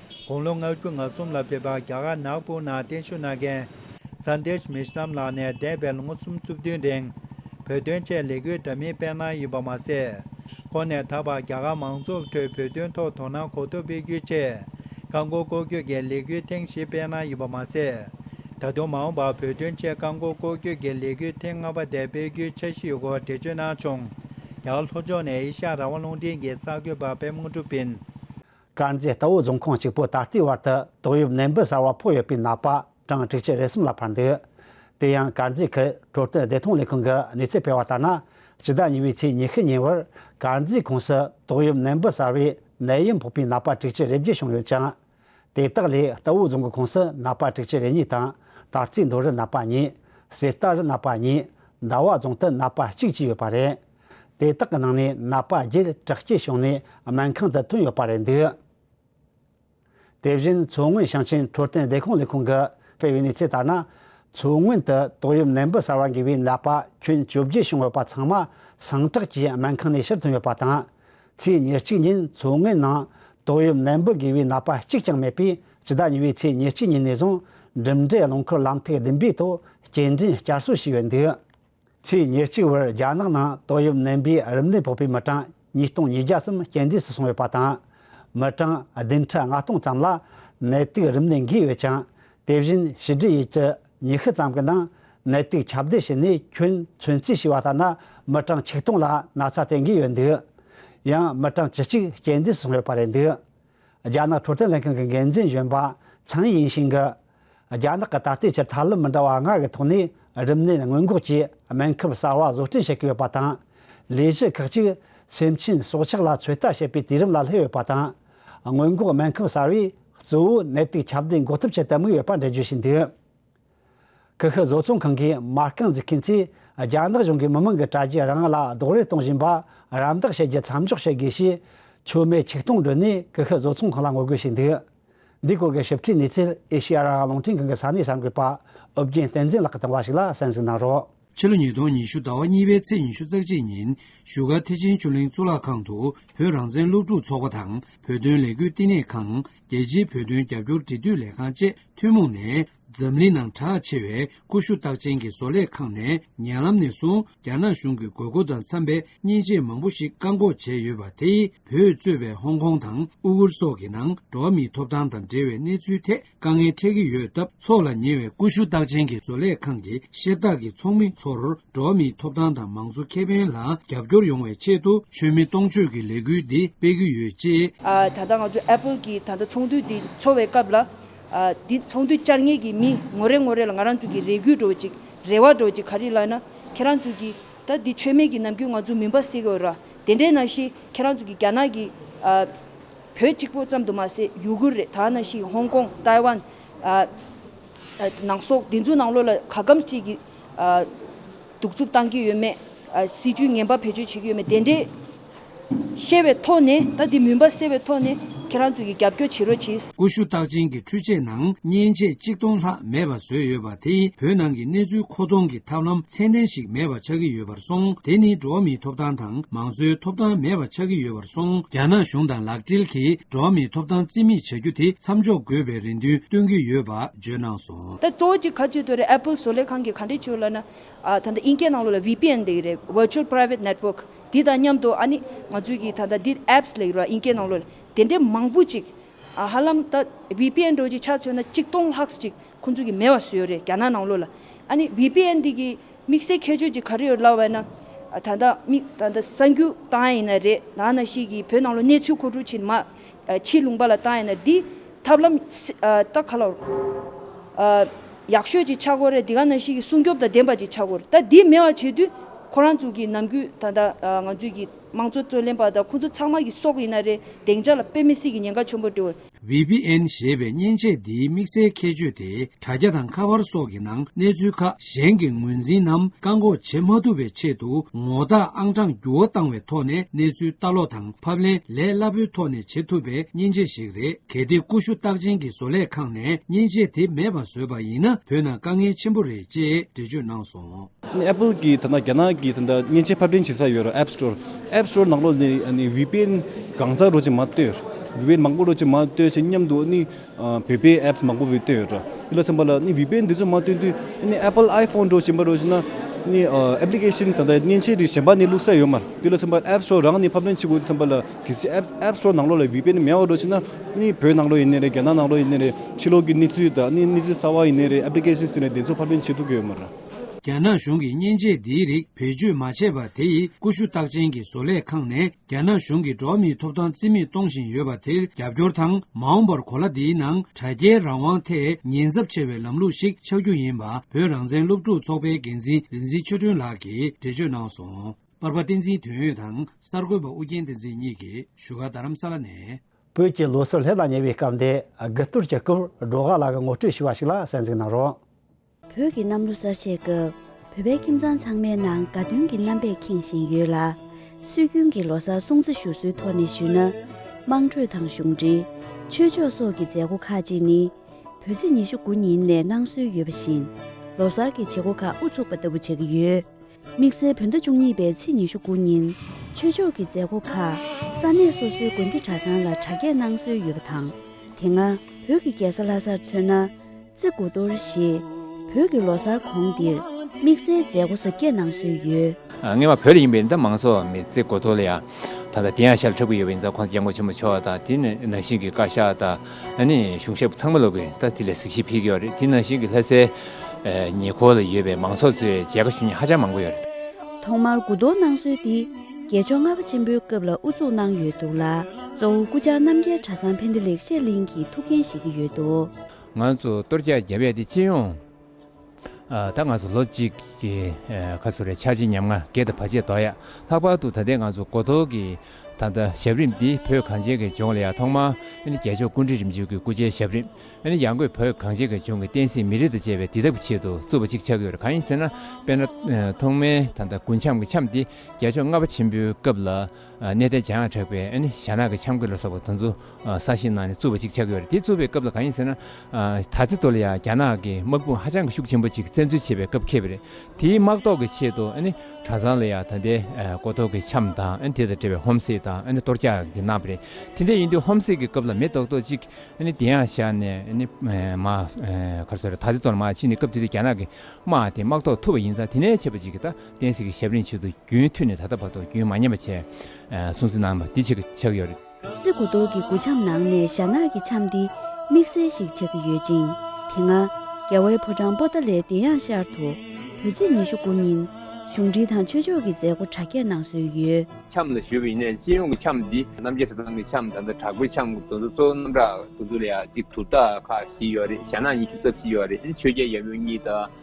དགུང་ལོ་ང་དགུ་ང་གསུམ་ལ་ཕེབས་པ་རྒྱ་གར་ནག་པོ་ནང་བརྟན་བཞུགས་གནང་མཁན Sandesh Mishram ལགས་ནས་འདས་པའི་ལོ་ངོ་གསུམ་བཅུ་བདུན་རིང་བོད་དོན་ཆེད་ལས་འགུལ་འདྲ་མིན་སྤེལ་གནང་ཡོད་པ་མ་ཟད། ཁོང་ནས་ད་བར་རྒྱ་གར་མང་ཚོགས་ཁྲོད་བོད་དོན་ཐོག་དོ་སྣང་གོ་ཐོབ་སྤེལ་རྒྱུའི་ཆེད་རྐང་འཁོར་སྐོར་སྐྱོད་ཀྱི་ལས་འགུལ་ཐེངས་བཞི་སྤེལ་གནང་ཡོད་པ་མ་ཟད། ད་དུང་མ་འོངས་པར་བོད་དོན་ཆེད་རྐང་འཁོར་སྐོར་སྐྱོད་ཀྱི་ལས་འགུལ་ཐེངས་ལྔ་པ་དེ་སྤེལ་རྒྱུའི་འཆར་གཞི་ཡོད་སྐོར་འགྲེལ་བརྗོད་གནང་བྱུང། རྒྱ་གར་ལྷོ་ཕྱོགས་ནས་ཨེ་ཤ་ར་བ་རླུང་འཕྲིན་གྱི་གསར་འགོད་པ་པདྨ་ཀྲུ་པིན། དཀར་མཛེས་རྟའུ་རྫོང་ཁོངས་གཅིག་པོ་ད་ལྟའི་བར་དུ་ཏོག་དབྱིབས་ནད་འབུ་གསར་བ་ཕོག་ཡོད་པའི་ནད་པ་གྲངས་དྲུག་ཅུ་རེ་གསུམ་ལ་འཕར་འདུག་དེ་ཡང་དཀར་མཛེས་ཁུལ་འཕྲོད་བསྟེན་བདེ་ཐང་ལས་ཁུངས་ཀྱི་གནས་ཚུལ་སྤེལ་བ་ལྟར་ན་ཕྱི་ཟླ་གཉིས་པའི་ཚེས་ཉི་ཤུ་ཉིན་བར་དཀར་མཛེས་ཁོངས་སུ་ཏོག་དབྱིབས་ནད་འབུ་གསར་བའི་ནད་ཡམས་ཕོག་པའི་ནད་པ་དྲུག་ཅུ་རེ་བརྒྱད་བྱུང་ཡོད་ཅིང། དེ་དག་ལས་རྟའུ་རྫོང་གི་ཁོངས་སུ་ནད་པ་དྲུག་ཅུ་རེ་གཉིས་དང་དར་རྩེ་མདོ་རུ་ནད་པ་གཉིས། གསེར་རྟ་རུ་ནད་པ་གཉིས། ཟླ་བ་རྫོང་དུ་ནད་པ་གཅིག་བཅས་ཡོད་པ་རེད། དེ་དག་གི་ནང་ནས་ནད་པ་བརྒྱད་དྲག་སྐྱེད་བྱུང་ནས་སྨན་ཁང་དུ་ཐོན་ཡོད་པ་རེད་འདུག་དེ་བཞིན་མཚོ་སྔོན་ཞིང་ཆེན་འཕྲོད་བསྟེན་བདེ་ཁོངས་ལས་ཁུངས་ཀྱིས་སྤེལ་བའི་གནས་ཚུལ་ལྟར་ན། མཚོ་སྔོན་དུ་ཏོག་དབྱིབས་ནད་འབུ་གསར་བ་འགོས་པའི་ནད་པ་ཁྱོན་བཅོ་བརྒྱད་བྱུང་ཡོད་པ་ཚང་མ་ཟིང་འཁྲུག་ཅེས་སྨན་ཁང་ནས་ཕྱིར་ཐོན་ཡོད་པ་དང། ཚེས་ཉེར་གཅིག་ཉིན་མཚོ་སྔོན་ནང་ཏོག་དབྱིབས་ནད་འབུ་འགོས་པའི་ནད་པ་གཅིག་ཀྱང་མེད་པས་སྤྱི་ཟླ་གཉིས་པའི་ཚེས་ཉེར་གཅིག་ཉིན་ནས་བཟུང་འགྲིམ་འགྲུལ་རླངས་འཁོར་ལམ་ཐིག་བདུན་པའི་ཐོག་སྐྱེལ་འདྲེན་བསྐྱར་གསོ་བྱས་ཡོད་འདུག། ཚེས་ཉེར་གཅིག་བར་རྒྱ་ནག་ནང་ཏོག་དབྱིབས་ནད་འབུའི་རིམས་ནད་ཕོག་པའི་མི་གྲངས་ཉིས་སྟོང་ཉིས་བརྒྱ་གསུམ་རྐྱེན་འདས་སུ་སོང་ཡོད་པ་དང། མི་གྲངས་བདུན་ཁྲི་ལྔ་སྟོང་ཙམ་ལ་ནད་དུག་རིམས་ནད་འགོས་ཡོད་ཅིང་དེ་བཞིན་ཕྱི་འབྲེལ་ཡུལ་གྱི་ཉི་ཤུ་ཙམ་གྱི་ནང་ནད་དུག་ཁྱབ་གདལ་བྱས་ནས་ཁྱོན་ཚོན་རྩིས་བྱས་པ་ལྟར་ན་མི་གྲངས་ཆིག་སྟོང་ལ་ན་ཚ་དེ་འགོས་ཡོད་འདུག་ཡང་མི་གྲངས་བཅུ་གཅིག་རྐྱེན་འདས་སུ་སོང་ཡོད་པ་རེད་འདུག་རྒྱ་ནག་འཕྲོད་བསྟེན་ལྷན་ཁང་གི་འགན་འཛིན་གཞོན་པ་ཚང་ཡིང་ཤིང་གིས། རྒྱ་ནག་གི་ད་ལྟའི་ཆར་ཐབས་ལམ་མི་འདྲ་བ་ལྔ་ཡི་ཐོག་ནས་རིམས་ནད་སྔོན་འགོག་གི་སྨན་ཁབ་གསར་བ་བཟོ་སྐྲུན་བྱེད་ཀྱི་ཡོད་པ་དང། ལས་གཞི་ཁག་ཅིག་སེམས་ཅན་སྲོག་ཆགས་ལ་ཚོད་ལྟ་བྱེད་པའི་དུས་རིམ་ལ་སླེབས་ཡོད་པ་དང། སྔོན་འགོག་སྨན་ཁབ་གསར་བས་གཙོ་བོ་ནད་དུག་ཁྱབ་གདལ་འགོག་ཐབས་བྱེད་དུ་དམིགས་ཡོད་པ་འགྲེལ་བརྗོད་བྱས་འདུག་ཀི་ཤུ་བཟོ་ཚོང་ཁང་གི་མ་རྐང་འཛུགས་མཁན་ཚོས་རྒྱ་ནག་གཞུང་གིས་མི་མང་གི་དྲ་རྒྱ་རང་ལ་རྡོག་རོལ་གཏོང་བཞིན་པ་རམ་འདེགས་བྱེད་རྒྱུ་མཚམས་འཇོག་བྱེད་དགོས་ཞེས་ཆོས་མེད་ཆིག་སྟོང་བསྒྲོན་ནས་ཀི་ཤུ་བཟོ་ཚོང་ཁང་ལ་ངོ་རྒོལ་བྱས་འདུག། འདིའི་སྐོར་གྱི་ཞིབ་ཕྲའི་གནས་ཚུལ་ཨེ་ཤེ་ཡ་རང་རླུང་འཕྲིན་ཁང་གི་ས་གནས་གསར་འགོད་པ་ཨོ་རྒྱན་བསྟན་འཛིན་ལགས་ཀྱིས་བཏང་བ་ཞིག་ལ་གསན་གཟིགས་གནང་རོགས། ཕྱི་ལོ་ཉིས་སྟོང་ཉི་ཤུ་ཟླ་བ་གཉིས་པའི་ཚེས་ཉི་ཤུ་རྩ་གཅིག་ཉིན་བཞུགས་སྒར་ཐེག་ཆེན་ཆུ་གླིང་གཙུག་ལག་ཁང་དུ་བོད་རང་བཙན་སློབ་ཕྲུག་ཚོགས་པ་དང་བོད་དོན་ལས་འགུལ་བསྟི་གནས་ཁང་རྒྱལ་སྤྱིའི་བོད་དོན་རྒྱབ་སྐྱོར་འབྲེལ་མཐུད་ལས་ཁང་བཅས་ཐུན་མོང་ནས་འཛམ་གླིང་ནང་གྲགས་ཆེ་བའི་ཀུ་ཤུ་རྟགས་ཅན་གྱི་བཟོ་ལས་ཁང་ནས་ཉེ་ལམ་ནས་བཟུང་རྒྱ་ནག་གཞུང་གི་དགོས་མཁོ་དང་འཚམ་པའི་མཉེན་ཆས་མང་པོ་ཞིག་བཀག་འགོག་བྱས་ཡོད་པ་དེས་བོད་གཙོས་པའི་ཧོང་ཀོང་དང་ཨུ་ཝུར་སོགས་ཀྱི་ནང་འགྲོ་བ་མིའི་ཐོབ་ཐང་དང་འབྲེལ་བའི་གནས་ཚུལ་ཐད་དཀའ་ངལ་འཕྲད་ཀྱི་ཡོད་སྟབས་ཚོགས་ལ་ཉེ་བའི་ཀུ་ཤུ་རྟགས་ཅན་གྱི་བཟོ་ལས་ཁང་གི་བཤེར་རྟགས་ཀྱི་ཚོགས་མི་ཚོར་འགྲོ་བ་མིའི་ཐོབ་ཐང་དང་མང་གཙོ་ཁེ་ཕན་ལ་རྒྱབ་སྐྱོར་ཡོང་བའི་ཆེད་དུ་མཆོད་མེ་གཏོང་མཆོད་ཀྱི་ལས་འགུལ་འདི་སྤེལ་གྱི་ཡོད་ཅེས། ད་ལྟ་ང་ཚོས Apple གྱི་ད་ལྟ་ཚོགས་འདུ་འདི་འཚོགས་བའི་སྐབས་ལ། འདི་ཚོང་དུས་བཅར་ངེས་ཀྱི་མི་ངོ་རེ་ངོ་རེ་ལ་ང་རང་ཚོ་གི་རེ་སྒུག་འགྲོ་ཅིག་རེ་བ་འགྲོ་ཅིག་ག་རེ་ལགས་ན་ཁྱེད་རང་ཚོ་གི་ད་འདི་ཆོས་མེད་ཀྱི་ནམ་རྒྱུན་ང་ཚོ་མུན་པ་སེལ་གི་འོད་ར་དེ་འདྲའི་ནང་བཞིན་ཁྱེད་རང་ཚོ་གི་རྒྱ་ནག་གི་བོད་གཅིག་པོ་ཙམ་དུ་མ་ཟད་ཡུ་གུར་རེད་ད་ནང་བཞིན་ཧོང་ཀོང་ཏཱའི་ཝན་ནང་སོག་འདི་ཚོ་ནང་ལོགས་ལ་ག་གམ་ཅིག་གི་གདུག་རྩུབ་བཏང་གི་ཡོད་མེད་སྲིད་ཇུས་ངན་པ་བེད་སྤྱོད་བྱེད་ཀྱི་ཡོད་མེད་དེ་འདྲའི། ཤེས་པའི་ཐོག་ནས་ད་དེ་མུན་པ་སེལ་བའི་ཐོག་ནས་ཁྱེད་རང་ཚོ་ཡི་རྒྱབ་སྐྱོར་བྱེད་རོགས་གྱིས། ཀུ་ཤུ་རྟགས་ཅན་གྱི་འཕྲུལ་ཆས་ནང་བརྙན་ཆས་གཅིག་སྟོང་ལྷག་མེད་པ་བཟོས་ཡོད་པ་དེ་བོད་ནང་གི་གནས་ཚུལ་མཁོ་གཏོང་གི་ཐབས་ལམ་ཚད་ལྡན་ཞིག་མེད་པ་ཆགས་ཀྱི་ཡོད་པར་སོང་དེ་ནི་འགྲོ་བ་མིའི་ཐོབ་ཐང་དང་མང་གཙོའི་ཐོབ་ཐང་མེད་པ་ཆགས་ཀྱི་ཡོད་པར་སོང་རྒྱ་ནག་གཞུང་དང་ལག་འབྲེལ་གྱིས་འགྲོ་བ་མིའི་ཐོབ་ཐང་རྩིས་མེད་བྱ་རྒྱུ་དེ་མཚམས་འཇོག་དགོས་པའི་རེ་འདུན་བཏོན་གྱི་ཡོད་པ་བརྗོད་གནང་སོང། ད་གཙོ་བོ་གཅིག་ག་ཚོད་དུ་རེད Apple བཟོ་ལས་ཁང་གི་ག་འདྲས་བྱོས་ལ་ན། ད་ལྟ་དབྱིན་སྐད་ནང་ལོ་ལ VPN འདེགས་རེད Virtual Private Network། དེ་དང་མཉམ་དུ་ཨ་ནི་ང་ཚོས་གིས་ད་ལྟ་འདིར apps ལས་ར་ཨིན་ཀའི་ནང་ལོད་དེ་འདྲའི་མང་པོ་ཅིག་ཧ་ལམ་ད vpn འགྲོ་གི་ཆ་མཚོན་ན་གཅིག་སྟོང་ལྷགས་ཅིག་ཁོང་ཚོ་གིས་མེད་བ་བཟོས་ཡོད་རེད་རྒྱ་ནག་ནང་ལོད་ལ་ཨ་ནི vpn འདི་གི་དམིགས་སའི་ཁྱད་ཆོས་ཅིག་ག་རེ་ཡོད་ལབ་བས་ན་ད་ལྟ་མིག་ད་ལྟ་གསང་རྒྱུ་བཏང་ཡ་ཡིན་ན་རེད་ད་ན་ཞིག་གིས་བོད་ནང་ལོ་གནས་ཚུལ་ཁོ་ཁྲུ་ཕྱིན་མ། ཕྱིའི་ལུང་པ་ལ་བཏང་ཡས་ན་འདི། ཐབས་ལམ། ལྟ་ག་ལ། ཡག་ཤོས་ཅིག་ཆགས་སྐོར་རེད་འདི་ག་ན་ཞིག་གི་སྲུང་སྐྱོབ་དང་ལྡན་པ་ཅིག་ཆགས་དགོས་རེད་ད་འདི་མེད་བ་བྱས་དུས། ཁོ་རང་ཚོ་གི་ནམ་གུས་ད་ལྟ་ང་ཚོའི་གི་དམངས་གཙོ་རྩོད་ལེན་པ་དང་ཁོ་ཚོ་ཚང་མ་གི་སྲོག་ཡིན་ན་རེད་བདེང་ཆ་ལ་དཔེ་མི་སྲིད་གི་ཉེན་ཁ་ཆོན་པོ་འགྲོ། VPN ཞེས་པའི་མཉེན་ཆས་འདིའི་དམིགས་བསལ་ཁྱད་ཆོས་དེ་དྲ་རྒྱ་དང་ཁ་པར་སོགས་ཀྱི་ནང་གནས་ཚུལ་ཁག་གཞན་གྱི་ངོས་འཛིན་ནམ་བཀག་འགོག་བྱེད་མ་ཐུབ་པའི་ཆེད་དུ་ངོ་རྟགས་ཨང་གྲངས་འགྱུར་བ་བཏང་བའི་ཐོག་ནས་གནས་ཚུལ་ལྟ་ཀློག་དང་ཕབ་ལེན་ལས་སླ་པོའི་ཐོག་ནས་བྱེད་ཐུབ་པའི་མཉེན་ཆས་ཤིག་རེད་གལ་ཏེ་ཀུ་ཤུ་རྟགས་ཅན་གྱི་བཟོ་ལས་ཁང་ནས་མཉེན་ཆས་དེ་མེད་པ་བཟོས་པ་ཡིན་ན་བོད་ནང་དཀའ་ངལ་ཆེན་པོ་རེད་ཅེས་འགྲེལ་བརྗོད་གནང་སོང། Apple གྱི་ད་ལྟ་རྒྱ་ནག་གི་ད་ལྟ་མཉེན་ཆས་ཕབ་ལེན་བྱེད་ས་ཡོད་རེད App Store App Store ནང་ལོ་ནས་ནས་བིད་པན་གང་ཚག་རོ་ཅིག་མ་ལྟོས། བིད་པན་མང་པོ་རོ་ཅིག་མ་ལྟོས་ཆེད་མཉམ་དུ་ནི། བོད་པའི apps མང་པོ་བོད་བཏོན་ཡོད་འདྲ། དེ་ལ་མཚོན་པ་ལ་བོད་པས་འདི་ཚོ་མ་བཏོན་དུས apple iphone འགྲོ་བཞིན་པ་རོ་བཞིན་ན། application ད་ལྟ་མཉེན་ཆས་རིགས་གཞན་པ་ནས་བླུག་ས་ཡོད་མ་རེད། དེ་ལ་མཚོན་པ app store རང་ནས་ཕབ་ལེན་བྱེད་དགོས་འཚམས་པ་ལ་གལ་སྲིད app store ནང་ལོགས་ལ་བོད་པས་ནི་མེད་བ་རོ་བཞིན་ན། བོད་ནང་ལོགས་ཡིན་ནི་རེད་རྒྱ་ནག་ནང་ལོགས་ཡིན་ནི་རེད་ཕྱི་ལོགས་ཀྱི་གནས་ཚུལ་དང་གནས་ཚུལ་གསར་བ་ཡིན་ནི་རེད application ཟེར་ནས་དེ་ཚོ་ཕབ་ལེན་བྱེད་ཐུབ་ཀྱི་ཡོད་མ་རེད། རྒྱ་ནག་གཞུང་གིས་མཉེན་ཆས་འདིའི་རིགས་བེད་སྤྱོད་མ་བྱས་པ་དེ་ཡིས་ཀུ་ཤུ་རྟགས་ཅན་གྱི་བཟོ་ལས་ཁང་ནས་རྒྱ་ནག་གཞུང་གིས་འགྲོ་བ་མིའི་ཐོབ་ཐང་རྩིས་མེད་གཏོང་བཞིན་ཡོད་པ་དེར་རྒྱབ་སྐྱོར་དང་མ་འོངས་པར་གོ་ལ་འདིའི་ནང་དྲ་རྒྱའི་རང་དབང་ཐད་ཉེན་ཚབས་ཆེ་བའི་ལམ་ལུགས་ཤིག་ཆགས་རྒྱུ་ཡིན་པ་བོད་རང་བཙན་སློབ་ཕྲུག་ཚོགས་པའི་འགན་འཛིན་རིག་འཛིན་ཆོས་སྒྲོན་ལགས་ཀྱིས་འགྲེལ་བརྗོད་གནང་སོང། པར་པ་བསྟན་འཛིན་དོན་ཡོད་དང་གསར་འགོད་པ་ཨུ་རྒྱན་བསྟན་འཛིན་གཉིས་ཀྱིས་བཞུགས་སྒར་རྡ་རམ་ས་ལ་ནས། བོད་ཀྱི་ལོ་སར་ལྷན་དང་ཉེ་བའི་སྐབས་འདི་དགུ་གཏོར་གྱི་སྐབས་འགྲོ་ག་ལགས་ངོ་སྤྲོད་ཞུས་པ་ཞིག་ལ་གསན་གཟིགས་གནང་རོགས། བོད་ཀྱི་གནམ་ལོ་གསར་བཞད་སྐབས་བོད་པའི་ཁྱིམ་ཚང་ཚང་མའི་ནང་དགའ་སྟོན་གྱི་རྣམ་པས་ཁེངས་བཞིན་ཡོད་ལ། སྲོལ་རྒྱུན་གྱི་ལོ་གསར་སྲུང་བརྩི་ཞུ་སྲོལ་ཐོག་ནས་ཞུས་ན། དམངས་ཁྲོད་དང་གཞུང་འབྲེལ། ཆོས་ཕྱོགས་སོགས་ཀྱི་མཛད་སྒོ་ཁག་ཅིག་ནི། བོད་ཚེས་ཉི་ཤུ་དགུ་ཉིན་ནས་གནང་སྲོལ་ཡོད་པ་བཞིན། ལོ་གསར་གྱི་བྱེད་སྒོ་ཁག་དབུ་ཚུགས་པ་ལྟ་བུ་བྱ་གི་ཡོད། དམིགས་བསལ་བོད་ཟླ་བཅུ་གཉིས་པའི་ཚེས་ཉི་ཤུ་དགུ་ཉིན། ཆོས་ཕྱོགས་ཀྱི་མཛད་སྒོ་ཁག་ས་གནས་སོ་སོའི་དགོན་སྡེ་གྲྭ་ཚང་ལ་གྲ་རྒྱས་གནང་སྲོལ་ཡོད་པ་དང། དེ་སྔ་བོད་ཀྱི་རྒྱལ་ས་ལྷ་སར་མཚོན་ན། རྩེ་དགུ་གཏོར་ཞེས། བོད་ཀྱི་ལོ་སར་གོང་འདིར་དམིགས་བསལ་མཛད་སྒོ་གཟབ་རྒྱས་གནང་སྲོལ་ཡོད། ངེས་པར་བོད་ལ་ཡིན་པའི་རིན་ཐང་མང་ཚོགས་མི་རྩེ་དགུ་གཏོར་ལ་ཡང་ད་ལྟ་དེ་ཡང་ཤར་ལ་འཁྲབ་ཀྱི་ཡོད་པ་ཡིན་ཙང་ཁོང་ཚོ་རྒྱལ་མགོ་ཆེན་པོ་མཆོག་དང་དེ་ནས་ནང་བཞིན་གྱི་བཀའ་ཤག་དང། ཨ་ནི་གཞུང་ཞབས་ཚང་མ་ལོག་གི་ད་དེ་ལས་གཟིགས་ཞིབ་ཕིག་ཡོད་རེད་དེ་ནང་བཞིན་གི་ལྷ་སའི་ཉེ་འཁོར་ལ་ཡོད་པའི་མང་ཚོགས་ཚོས་མཇལ་ཁ་ཞུ་མྱི་ཧ་ཅང་མང་པོ་ཡོད་རེད། ཐོག་མར་གུ་དོག་གནང་སྲོལ་འདི་རྒྱལ་མཆོག་ལྔ་པ་ཆེན་པོའི་སྐབས་ལ་དབུ་བཙུགས་གནང་ཡོད་འདུག་ལ་གཙོ་བོ་སྐུ་བཅར་རྣམ་རྒྱལ་གྲྭ་ཚང་བྷནྡྷི་ལེགས་བཤད་གླིང་གི་ཐུགས་འགན་བཞེས་ཀྱི་ཡོད་འདུག། ང་ཚོ་གཏོར་རྒྱག་བརྒྱབ་ཡས་དེ་ཅི་ཡོང། ད་ང་ཚོ་ལོ་གཅིག་གི་ཁ་སོ་རེ་ཆགས་རྗེས་ཉམ་ང་བརྒྱད་དང་བར་ཆད་དོག་ཡ་ལྷག་པར་དུ་ད་ལྟའི་ང་ཚོ་མགོ་ཐོག་གི་ད་ལྟ་ཞབས་རིམ་འདི་བོད་གངས་ཅན་གྱི་ལྗོངས་ལ་ཡང་ཐོག་མར་རྒྱལ་མཆོག་ཀུན་བྲིས་རིམ་བྱོན་གྱི་སྐུ་ཕྱྭའི་ཞབས་རིམ་ཡང་སྒོས་བོད་གངས་ཅན་གྱི་ལྗོངས་ཀྱི་བསྟན་སྲིད་མི་རིགས་དང་བཅས་པའི་འདི་དག་གི་ཆེད་དུ་བཙུགས་པ་ཅིག་ཆགས་ཀྱི་ཡོད་རེད་གང་ཡིན་ཟེར་ན་དཔེར་ན་ཐོག་མའི་ད་ལྟ་དགུན་འཆམ་གྱི་འཆམ་དེ་རྒྱལ་མཆོག་ལྔ་པ་ཆེན་པོའི་སྐབས་ལ་གནས་དེ་བྱང་བྲག་པའི་ཞྭ་ནག་གི་ཆམ་གོས་ལ་སོགས་པ་དང་ཚུ་ས་ཞིག་ནང་ནས་བཙུར་བ་ཅིག་ཆགས་ཀྱི་ཡོད་རེད་དེ་བཙུར་བའི་སྐབས་ལ་གང་ཡིན་ཟེར་ན། ད་ཚེ་ཐོ་ལ་ཡང་རྒྱ་ནག་གི་དམག་དཔུང་ཧ་ཅང་གི་ཤུགས་ཆེན་པོ་ཅིག་བཙན་འཛུལ་བྱེད་པའི་སྐབས་ཁེལ་བ་རེད་དེའི་དམག་ཟློག་གི་ཆེད་དུ་གྲྭ་ཚང་ལ་ཡང་ད་ལྟའི་གོ་ཐོག་གི་ཆམ་དང་དེ་དང་འབྲེལ་བའི་ཧོམ་སེ་དང་གཏོར་རྒྱག་གི་གནང་བ་རེད་དེ་འདྲ་ཡིན་དུས་ཧོམ་སེ་གི་སྐབས་ལ་མེ་ཏོག་ཏོག་ཅིག་དེ་ཡང་བཞག་ནས་མ་གར་ཟེར་རོ་ད་ཚེ་ཐོ་ལ་མ་ཕྱིན་ནས་སྐབས་དེ་དུས་རྒྱ་ནག་གི་དམག་དེ་དམག་ཟློག་ཐུབ་པ་ཡིན་ཙང་དེ་ནས་བྱས་པ་ཅིག་གིས་ད། བསྟན་སྲིད་ཀྱི་ཞབས་གླིང་ཆེད་དུ་རྒྱུན་མཐུད་ནས་ད་ལྟ་བར་དུ་རྒྱུན་མ་ཉམས་པ་བྱས་སྲུང་བརྩི་གནང་བ་འདི་ཆགས་ཀྱི་ཆགས་ཀྱི་ཡོད། རྩི་གུ་རྡོག་གི་གུ་འཆམ་ནང་ནས་ཞྭ་ནག་གི་འཆམ་འདི་དམིགས་བསལ་ཞིག་ཆགས་ཀྱི་ཡོད་ཅིང་དེ་སྔ། རྒྱ་བལ་བོ་སྤྲང་པོ་ཏཱ་ལའི་བདེ་ཡངས་ཤར་དུ་དུས་ཚིགས་ཉི་ཤུ་དགུ་ཉིན་གཞུང་འབྲེལ་དང་ཆོས་ཕྱོགས་ཀྱི་མཛད་སྒོ་གྲ་རྒྱས་གནང་སྲོལ་ཡོད། འཆམ་ལ་ཞུ་བའི་ཡིན་ནའི་སྤྱི་ཡོངས་ཀྱི་འཆམ་འདི་རྣམ་རྒྱལ་གྲྭ་ཚང་གི་འཆམ་ད་ལྟ་དྲག་པོའི་འཆམ་གྱི་འདུ་འཛོ་གཙོ་བོ་རྣམ་གྲངས་འདུ་འཛོ་ལ་ཡང་གཅིག་དུར་རྟ་ཁག་བཞི་ཡོད་རེད་ཞྭ་ནག་ཉི་ཤུ་རྩ་བཞི་ཡོད་རེད་ཆོས་རྒྱལ་ཡབ་ཡུམ་གཉིས་དང།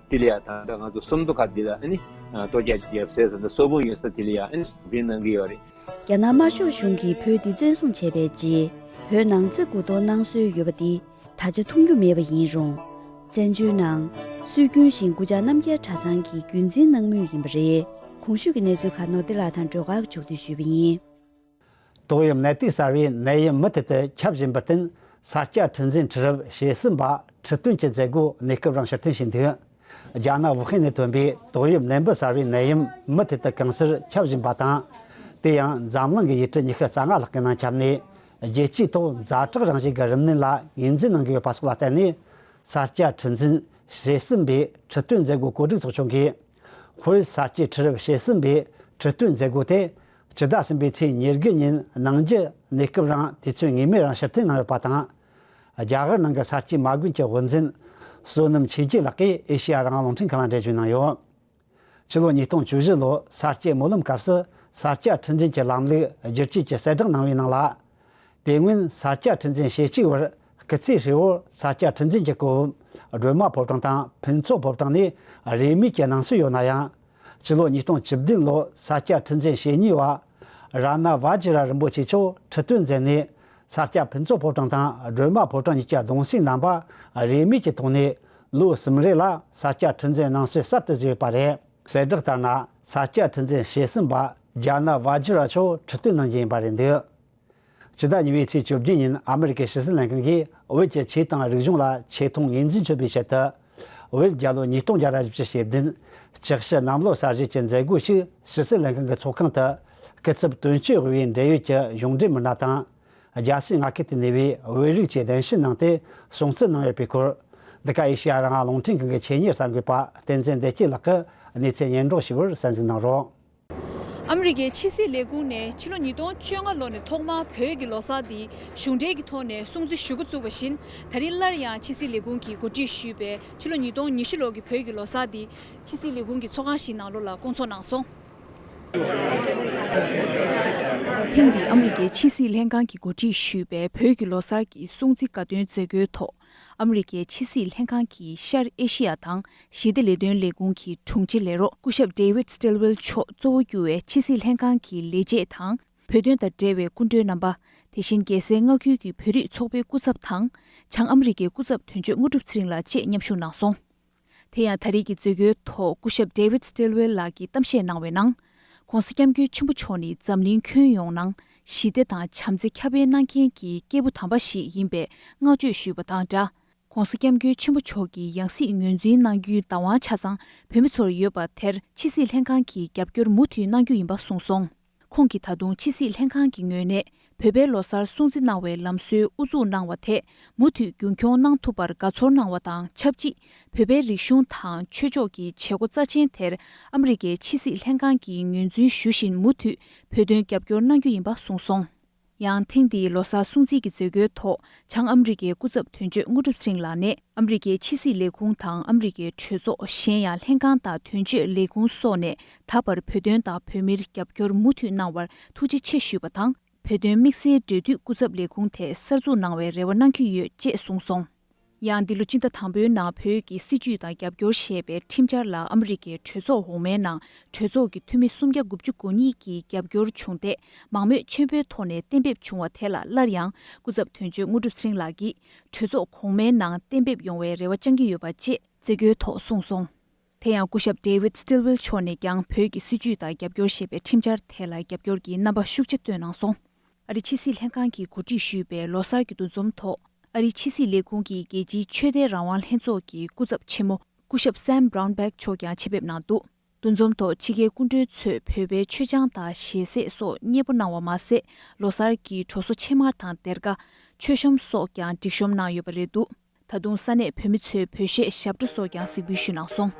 དེ་ལ་ཡང་དང་པོ་ང་ཚོ་སུམ་མདོ་ཁ་འདི་ལ་ལྟོ་རྒྱ་ཅིག་ཡབ་སྲས་དང་སོ་དགུ་ཡོད་ས་དེ་ལ་ཡང་འཛིན་གནང་གི་ཡོད་རེད། རྒྱ་ནག་དམར་ཤོག་གཞུང་གིས་བོད་འདི་བཙན་བཟུང་བྱས་པའི་རྗེས་བོད་ནང་བརྩི་བཀུར་དོ་སྣང་སྲོལ་ཡོད་པ་འདི་ད་ཆ་མཐོང་རྒྱུ་མེད་པ་ཡིན་རུང། བཙན་བྱོལ་ནང་སྲོལ་རྒྱུན་བཞིན་དགུ་ཆ་རྣམ་རྒྱལ་གྲྭ་ཚང་གིས་རྒྱུན་འཛིན་གནང་མུས་ཡིན་པ་རེད། གོང་ཞུས་ཀྱི་གནས་ཚུལ་ཁག་ནོར་བདེ་ལགས་དང་སྒྲོལ་དཀར་མཆོག་གིས་ཞུས་པ་ཡིན། ཏོག་དབྱིབས་ནད་དུག་གསར་བའི་ནད་ཡམས་མུ་མཐུད་དུ་ཁྱབ་བཞིན་པར་བརྟེན་ས་སྐྱ་ཁྲི་འཛིན་ཁྲི་རབས་ཞེ་གསུམ་པ་ཁྲི་སྟོན་གྱི་མཛད་སྒོ་གནས་སྐབས་རང་ཕྱིར་ཐོན་བྱས་འདུག་རྒྱ་ནག་ཝུ་ཧན་ནས་ཐོན་པའི་ཏོག་དབྱིབས་ནད་འབུ་གསར་བའི་ནད་ཡམས་མུ་མཐུད་དུ་གང་སར་ཁྱབ་བཞིན་པ་དང། དེ་ཡང་འཛམ་གླིང་གི་ཡུལ་གྲུ་ཉི་ཤུ་རྩ་ལྔ་ལྷག་གི་ནང་ཁྱབ་ནས་རྒྱལ་སྤྱིའི་ཐོག་མཛའ་གྲོགས་རང་བཞིན་གྱི་རིམས་ནད་ལ་ངོས་འཛིན་གནང་གི་ཡོད་པ་སོགས་ལ་བརྟེན་ནས་ས་སྐྱ་ཁྲི་འཛིན་ཞེ་གསུམ་པའི་ཁྲི་སྟོན་མཛད་སྒོ་གོ་སྒྲིག་ཚོགས་ཆུང་གིས། ཧུའེ་ས་སྐྱའི་ཁྲི་རབས་ཞེ་གསུམ་པའི་ཁྲི་སྟོན་མཛད་སྒོ་དེ་སྤྱི་ཟླ་གསུམ་པའི་ཚེས་ཉེར་དགུ་ཉིན་ནང་རྒྱུ་གནས་སྐབས་རིང་དུས་ཚོད་ངེས་མེད་རིང་ཕྱིར་འཐེན་གནང་ཡོད་པ་དང། རྒྱ་གར་ནང་གི་གསར་སྐྱེས་མ་དགོན་གྱི་དབུ་འཛིན། བསོད་ནམས་ཆོས་རྒྱལ་ལགས་ཀྱིས་ཨེ་ཤེ་ཡ་རང་རླུང་འཕྲིན་ཁང་ལ་འགྲེལ་བརྗོད་གནང་ཡོད། ཕྱི་ལོ་ཉིས་སྟོང་བཅུ་བཞི་ལོའི་གསར་སྐྱེས་སྨོན་ལམ་སྐབས་སུ་གསར་སྐྱ་ཁྲི་འཛིན་གྱི་ལམ་ལུགས་བསྒྱུར་བཅོས་ཀྱི་གསལ་བསྒྲགས་གནང་བའི་ནང་ལ། དེ་སྔོན་གསར་སྐྱ་ཁྲི་འཛིན་ཞེ་གཅིག་བར་སྐུ་ཚེ་ཧྲིལ་བོར་གསར་སྐྱ་ཁྲི་འཛིན་གྱི་སྐུ་བབས་སྒྲོལ་མ་ཕོ་བྲང་དང་ཕུན་ཚོགས་ཕོ་བྲང་ནས་རེས་མོས་ཀྱི་གནང་སྲོལ་ཡོད་ན་ཡང། སྤྱི་ལོ་ཉིས་སྟོང་བཅུ་བདུན་ལོར་ས་སྐྱ་ཁྲི་འཛིན་ཞེ་གཉིས་བ་རཱ་ནཱ་བཱ་ཇི་ར་རིན་པོ་ཆེ་མཆོག་ཁྲི་སྟོན་མཛད་ནས་ས་སྐྱ་ཕུན་ཚོགས་ཕོ་བྲང་དང་སྒྲོལ་མ་ཕོ་བྲང་གཉིས་ཀྱི་གདུང་སྲིང་རྣམ་པ་རིས་མེད་ཀྱི་ཐོག་ནས་ལོ་གསུམ་རེ་ལ་ས་སྐྱ་ཁྲི་འཛིན་གནང་སྲོལ་གསར་དུ་བཟོས་པ་རེད། གསལ་བསྒྲགས་ལྟར་ན་ས་སྐྱ་ཁྲི་འཛིན་ཞེ་གསུམ་པ་རྒྱ་ནཱ་བཱ་ཇི་ར་མཆོག་ཁྲི་སྟོན་གནང་རྒྱུ་ཡིན་པ་རེད་འདུག་ཕྱི་ཟླ་གཉིས་པའི་ཚེས་བཅོ་བརྒྱད་ཉིན་ཨ་མི་རི་ཀའི་ཕྱི་སྲིད་ལྷན་ཁང་གིས་བོད་ཀྱི་ཆོས་དང་རིག་གཞུང་ལ་ཆེ་མཐོང་ངོས་འཛིན་བྱེད་པའི་ཆེད་དུ། བོད་རྒྱལ་ལོ་ཉིས་སྟོང་བརྒྱ་རེ་བཞི་བཅུ་ཞེ་བདུན། གཅིག་བཞི་གནམ་ལོ་གསར་བཞི་བཅས་མཛད་སྒོ་ཞིག་ཕྱི་སྲིད་ལྷན་ཁང་གི་ཚོགས་ཁང་དུ། སྐུ་ཚབ་དོན་གཅོད་དབུས་འབྲེལ་ཡོད་ཀྱི་གཞུང་འབྲེལ་མི་སྣ་དང། རྒྱལ་སྤྱིའི་མངའ་ཁུལ་དུ་གནས་པའི་བོད་རིགས་བཅས་གདན་ཞུ་གནང་སྟེ་སྲུང་བརྩི་གནང་ཡོད་པའི་སྐོར། འདི་ག་ཨེ་ཤེ་ཡ་རང་དབང་རླུང་འཕྲིན་ཁང་གི་ཆེད་གཉེར་གསར་འགོད་པ་བསྟན་འཛིན་བདེ་སྐྱིད་ལགས་ཀྱིས་གནས་ཚུལ་སྙན་སྒྲོག་ཞུ་བར་གསན་གཟིགས་གནང་རོགས། ཨ་མི་རི་ཀའི་ཕྱི་སྲིད་ལས་ཁུངས་ནས་ཕྱི་ལོ་ཉིས་སྟོང་བཅོ་ལྔ་ལོ་ནས་ཐོག་མར་བོད་ཀྱི་ལོ་གསར་འདི་གཞུང་འབྲེལ་གྱི་ཐོག་ནས་སྲུང་བརྩི་ཞུ་འགོ་བཙུགས་པ་བཞིན་ད་རིང་སླར་ཡང་ཕྱི་སྲིད་ལས་ཁུངས་ཀྱིས་གོ་སྒྲིག་ཞུས་པའི་ཕྱི་ལོ་ཉིས་སྟོང་ཉི་ཤུ་ལོ་གི་བོད་ཀྱི་ལོ་གསར་འདི་ཕྱི་སྲིད་ལས་ཁུངས་ཀྱི་ཚོགས་ཁང་ཞིག་ནང་ལོ་ལ་བསྐོང་ཚོགས་གནང་སོང། ཐེངས་འདིའི་ཨ་མི་རི་ཀའི་ཕྱི་སྲིད་ལྷན་ཁང་གིས་གོ་སྒྲིག་ཞུས་པའི་བོད་ཀྱི་ལོ་གསར་གྱི་སྲུང་བརྩི་དགའ་སྟོན་མཛད་སྒོའི་ཐོག་ཨ་མི་རི་ཀའི་ཕྱི་སྲིད་ལྷན་ཁང་གི་ཤར་ཨེ་ཤི་ཡ་དང་ཞི་བདེ་ལས་དོན་ལས་ཁུངས་ཀྱི་དྲུང་ཆེ་ལས་རོགས་སྐུ་ཞབས David Stilwell མཆོག་གཙོ་བོ་གྱུར་བའི་ཕྱི་སྲིད་ལྷན་ཁང་གི་ལས་བྱེད་དང་བོད་དོན་དང་འབྲེལ་བའི་སྐུ་མགྲོན་རྣམ་པ། དེ་བཞིན་རྒྱལ་སའི་མངའ་ཁུལ་གྱི་བོད་རིགས་ཚོགས་པའི་སྐུ་ཚབ་དང། བྱང་ཨ་མི་རི་ཀའི་སྐུ་ཚབ་དོན་གཅོད་དངོས་གྲུབ་ཚེ་རིང་ལགས་བཅས་མཉམ་ཞུགས་གནང་སོང། དེ་ཡང་ད་རེས་ཀྱི་མཛོད་སྒོའི་ཐོག་སྐུ་ཞབས David Stilwell ལགས་ཀྱིས་གཏམ་བཤད་གནང་བའི་ནང། ྋགོང་ས ྋསྐྱབས་མགོན་ཆེན་པོ་མཆོག་ནི་འཛམ་གླིང་ཁྱོན་ཡོངས་ནང་ཞི་བདེ་དང་བྱམས་བརྩེ་ཁྱབ་སྤེལ་གནང་མཁན་གྱི་སྐྱེས་བུ་དམ་པ་ཞིག་ཡིན་པའི་བསྔགས་བརྗོད་ཞུས་པ་དང་སྦྲགས། ྋགོང་ས ྋསྐྱབས་མགོན་ཆེན་པོ་མཆོག་གི་ཡང་སྲིད་ངོས་འཛིན་གནང་རྒྱུའི་བདག་དབང་ཆ་ཚང་བོད་མི་ཚོར་ཡོད་པ་དེར་ཕྱི་སྲིད་ལྷན་ཁང་གིས་རྒྱབ་སྐྱོར་མུ་མཐུད་གནང་རྒྱུ་ཡིན་པ་གསུངས་སོང། ཁོང་གིས་ད་དུང་ཕྱི་སྲིད་ལྷན་ཁང་གི་ངོས་ནས་བོད་པའི་ལོ་སར་སྲུང་བརྩི་གནང་བའི་ལམ་སྲོལ་དབུ་འཛུགས་གནང་བ་དེ་མུ་མཐུད་རྒྱུན་འཁྱོངས་གནང་ཐུབ་པར་དགའ་ཚོར་གནང་བ་དང་ཆབས་ཅིག་བོད་པའི་རིག་གཞུང་དང་ཆོས་ཕྱོགས་ཀྱི་བྱེད་སྒོ་རྩ་ཆེན་དེར་ཨ་མི་རི་ཀའི་ཕྱི་སྲིད་ལྷན་ཁང་གིས་ངོས་འཛིན་ཞུ་བཞིན་མུ་མཐུད་བོད་དོན་རྒྱབ་སྐྱོར་གནང་རྒྱུ་ཡིན་པ་གསུངས་སོང། ཡང་ཐེངས་འདིའི་ལོ་སར་སྲུང་བརྩི་གྱི་མཛད་སྒོའི་ཐོག་བྱང་ཨམ་རི་ཀའི་སྐུ་ཚབ་དོན་གཅོད་དངོས་གྲུབ་སེང་ལགས་ནས་ཨམ་རི་ཀའི་ཕྱི་སྲིད་ལས་ཁུངས་དང་ཨམ་རི་ཀའི་གྲོས་ཚོགས་གཞན་ཡང་ལྷན་ཁང་དང་དོན་གཅོད་ལས་ཁུངས་སོགས་ནས་ད་བར་བོད་དོན་དང་བོད་མིར་རྒྱབ་སྐྱོར་མུ་མཐུད་གནང་བར་ཐུགས་རྗེ་ཆེ་ཞུས་པ་དང་བོད་དོན་དམིགས་བསལ་འབྲེལ་མཐུད་སྐུ་ཚབ་ལས་ཁུངས་དེ་གསར་འཛུགས་གནང་བའི་རེ་བ་གནང་གི་ཡོད་ཅེས་གསུངས་སོང། ཡང་འདི་ལོ་སྤྱི་ཟླ་དང་པོའི་ནང་བོད་ཀྱི་སྲིད་བྱུས་དང་རྒྱབ་སྐྱོར་ཞེས་པའི་ཁྲིམས་འཆར་ལ་ཨ་མི་རི་ཀའི་གྲོས་ཚོགས་འོག་མའི་ནང་གྲོས་ཚོགས་ཀྱི་འཐུས་མི་སུམ་བརྒྱ་དགུ་བཅུ་གོ་གཉིས་ཀྱིས་རྒྱབ་སྐྱོར་བྱུང་སྟེ་མང་མོས་ཆེན་པོའི་ཐོག་ནས་གཏན་འབེབས་བྱུང་བ་དེ་ལ་སླར་ཡང་སྐུ་ཚབ་དོན་གཅོད་དངོས་གྲུབ་ཚེ་རིང་ལགས་ཀྱིས་གྲོས་ཚོགས་གོང་མའི་ནང་གཏན་འབེབས་ཡོང་བའི་རེ་བ་བཅང་གི་ཡོད་པ་བཅས་མཛད་སྒོའི་ཐོག་གསུངས་སོང། དེ་ཡང་སྐུ་ཞབས David Stilwell མཆོག་ནས་ཀྱང་བོད་ཀྱི་སྲིད་བྱུས་དང་རྒྱབ་སྐྱོར་ཞེས་པའི་ཁྲིམས་འཆར་དེ་ལ་རྒྱབ་སྐྱོར་གྱི་རྣམ་པ་ཤུགས་ཆེ་བཏོན་གནང་སོང། ཨ་རིའི་ཕྱི་སྲིད་ལྷན་ཁང་གིས་གོ་སྒྲིག་ཞུས་པའི་ལོ་གསར་གྱི་འདུ་འཛོམས་ཐོག་ཨ་རིའི་ཕྱི་སྲིད་ལས་ཁུངས་ཀྱི་རྒྱལ་སྤྱིའི་ཆོས་དད་རང་དབང་ལྷན་ཚོགས་ཀྱི་སྐུ་ཚབ་ཆེན་མོ་སྐུ་ཞབས Sam Brownback མཆོག་ཀྱང་ཆེད་ཕེབས་གནང་འདུག་འདུ་འཛོམས་ཐོག་ཕྱི་རྒྱལ་སྐུ་མགྲོན་ཚོས་བོད་པའི་མཆོད་ཆང་དང་ཞལ་ཟས་སོགས་མཉེས་པོ་གནང་བ་མ་ཟད་ལོ་གསར་གྱི་གྲོ་སོ་ཕྱེ་མར་དང་སྡེར་ཀ། མཆོད་ཤོམ་སོགས་ཀྱང་སྒྲིག་ཤོམ་གནང་ཡོད་པ་རེད་འདུག། ད་དུང་ས་གནས་བོད་མི་ཚོའི་བོད་གཞས་ཞབས་བྲོ་སོགས་ཀྱང་གཟིགས་འབུལ་ཞུས་གནང་སོང།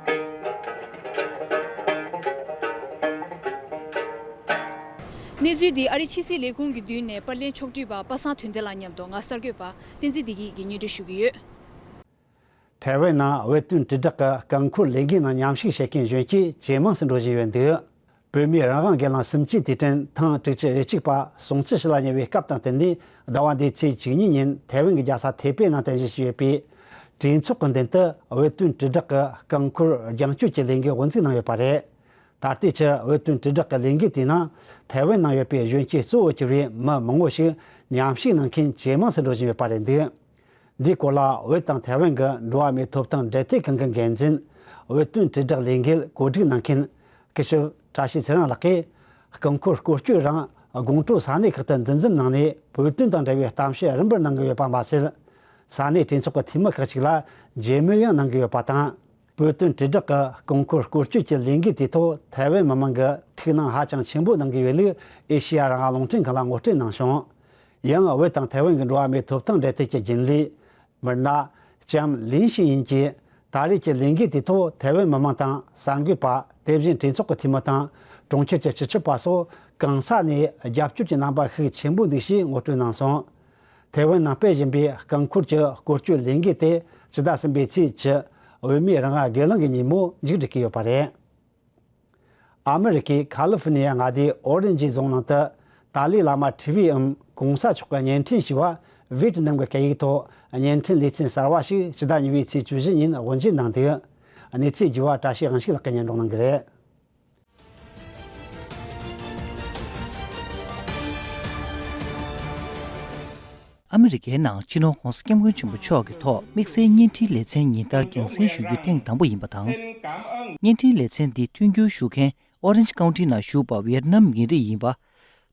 གནས་ཚུལ་འདི་ཨ་རིའི་ཕྱི་སྲིད་ལས་ཁུངས་ཀྱི་མདུན་ནས་པར་ལེན་ཕྱོགས་བསྒྲིགས་པ་པ་སངས་དོན་ལྡན་ལགས་མཉམ་དུ་ང་གསར་འགོད་པ་བསྟན་འཛིན་བདེ་སྐྱིད་ཀྱིས་ཉེ་འབྲེལ་ཞུ་གི་ཡོད། ཐའེ་ཝན་ནང་འོས་བསྟུན་དྲིལ་བསྒྲགས་ཀྱི་རྐང་འཁོར་ལས་འགུལ་ནང་མཉམ་ཞུགས་བྱེད་མཁན་གཞོན་སྐྱེས་ཇེ་མང་ཟིན་འགྲོ་བཞིན་ཡོད་འདུག་བོད་མིའི་རང་དབང་སྒེར་ལངས་སུམ་ཅུའི་དུས་དྲན་ཐེངས་དྲུག་ཅུ་རེ་གཅིག་པ་ཟུང་བཅུ་ཞེ་ལྔ་ཉེ་བའི་སྐབས་དང་བསྟུན་ནས་ཟླ་བ་འདིའི་ཚེས་བཅུ་གཉིས་ཉིན་ཐའེ་ཝན་གྱི་རྒྱལ་ས་ཐའེ་པེ་ནང་རྟེན་གཞི་བྱས་ཡོད་པའི་གྲོས་ཚོགས་ཀྱི་མདུན་དུ་འོས་ཐོན་དྲིལ་བསྒྲགས་ཀྱི་རྐང་འཁོར་རྒྱང་སྐྱོད་ཀྱི་ལས་འགུལ་དབུ་འཛུགས་གནང་ཡོད་པ་རེད། ད་ལྟའི་ཆར་འོས་ཐོན་དྲིལ་བསྒྲགས་ཀྱི་ལས་འགུལ་དེའི་ནང་ཐའེ་ཝན་ནང་ཡོད་པའི་གཞོན་སྐྱེས་གཙོ་བོར་གྱུར་བའི་མི་མང་བོ་ཞིག་ཉམས་ཞིབ་གནང་མཁན་ཇེ་མང་དུ་འགྲོ་བཞིན་ཡོད་པ་རེད་འདུག་འདིའི་སྐོར་ལ་བོད་དང་ཐའེ་ཝན་གྱི་འགྲོ་བ་མིའི་ཐོབ་ཐང་འབྲེལ་མཐུད་ཁང་གི་འགན་འཛིན། བོད་དོན་དྲིལ་བསྒྲགས་ལས་འགུལ་གོ་སྒྲིག་གནང་མཁན། སྐུ་ཞབས་བཀྲ་ཤིས་ཚེ་རིང་ལགས་ཀྱིས། སྐུ་འཁོར་སྐོར་སྐྱོད་རིང་དགོང་དྲོ་ས་གནས་ཁག་ཏུ་འདུ་འཛོམས་གནང་ནས་བོད་དོན་དང་འབྲེལ་བའི་གཏམ་བཤད་རིམ་པར་གནང་གི་ཡོད་པ་མ་ཟད། ས་གནས་གྲོས་ཚོགས་ཀྱི་འཐུས་མི་ཁག་ཅིག་ལ་མཇལ་མོལ་ཡང་གནང་གི་ཡོད་པ་དང། བོད་དོན་དྲིལ་བསྒྲགས་ཀྱི་རྐང་འཁོར་བསྐོར་སྐྱོད་ཀྱི་ལས་འགུལ་དེའི་ཐོག་ཐའེ་ཝན་མི་དམངས་ཀྱིས་ཐུགས་སྣང་ཧ་ཅང་ཆེན་པོ་གནང་གི་ཡོད་ལུགས་ཨེ་ཤེ་ཡ་རང་དབང་རླུང་འཕྲིན་ཁང་ལ་ངོ་སྤྲོད་གནང་ཞིང། ཡང་ཝེ་དང་ཐའེ་ཝན་གྱི་འགྲོ་བ་མིའི་ཐོབ་ཐང་འབྲེལ་མཐུད་ཀྱི་རྒྱུན་ལས། མིར་ན། ཅམ་ལིན་ཞིན་ཡིན་གྱིས་ད་རེས་ཀྱི་ལས་འགུལ་དེའི་ཐོག་ཐའེ་ཝན་མི་དམངས་དང་གསར་འགོད་པ་དེ་བཞིན་གྲོས་ཚོགས་ཀྱི་འཐུས་མི་དང་གྲོང་ཁྱེར་གྱི་སྤྱི་ཁྱབ་པ་སོགས་གང་ས་ནས་རྒྱབ་སྐྱོར་གྱི་རྣམ་པ་ཤུགས་ཆེན་པོ་འདུག་ཞེས་ངོ་སྤྲོད་གནང་སོང། ཐའེ་ཝན་ནང་སྤེལ་བཞིན་པའི་རྐང་འཁོར་གྱི་བཀོལ་སྤྱོད་ལས་འགུལ་དེ་ཕྱི་ཟླ་གསུམ་པའི་ཚེས་བཅུ་འོས་མིའི་རང་དབང་སྒེར་ལངས་ཀྱི་ཉིན་མོ་མཇུག་སྒྲིལ་གྱི་ཡོད་པ་རེད། ཨ་མི་རི་ཀའི་ཁཱ་ལི་ཧྥི་ནི་ཡ་མངའ་སྡེའི་ཨོ་རེན་ཇི་རྫོང་ནང་དུ་ཏཱ་ལའི་བླ་མ་ཁྲི་བྷི་ཨིམ་གོང་ས་མཆོག་གི་བརྙན་འཕྲིན་ཞི་བ Viet Nam གི་སྐད་ཡིག་ཐོག་བརྙན་འཕྲིན་ལེ་ཚན་གསར་བ་ཞིག་ཕྱི་ཟླ་གཉིས་པའི་ཚེས་བཅུ་བཞི་ཉིན་དབུ་འབྱེད་གནང་དུས། གནས་ཚུལ་བརྒྱུད་བར་བཀྲ་ཤིས་དབང་ཕྱུག་ལགས་ཀྱིས་སྙན་སྒྲོག་གནང་གི་རེད། ཨ་མི་རི་ཀའི་ནང་སྤྱི་ནོར་ཧོང་སི་ཀྱམ་ཀུན་ཆེན་པོ་མཆོག་གི་ཐོག་དམིགས་བསལ་བརྙན་འཕྲིན་ལེ་ཚན་ཉིན་ལྟར་རྒྱང་སྲིང་ཞུ་རྒྱུ་ཐེངས་དང་པོ་ཡིན་པ་དང། བརྙན་འཕྲིན་ལེ་ཚན་འདི་མཐུན་འགྱུར་ཞུ་མཁན Orange County ནང་བཞུགས་པ་ཝེར་ནམ་ཡིན་རིགས་ཡིན་པ།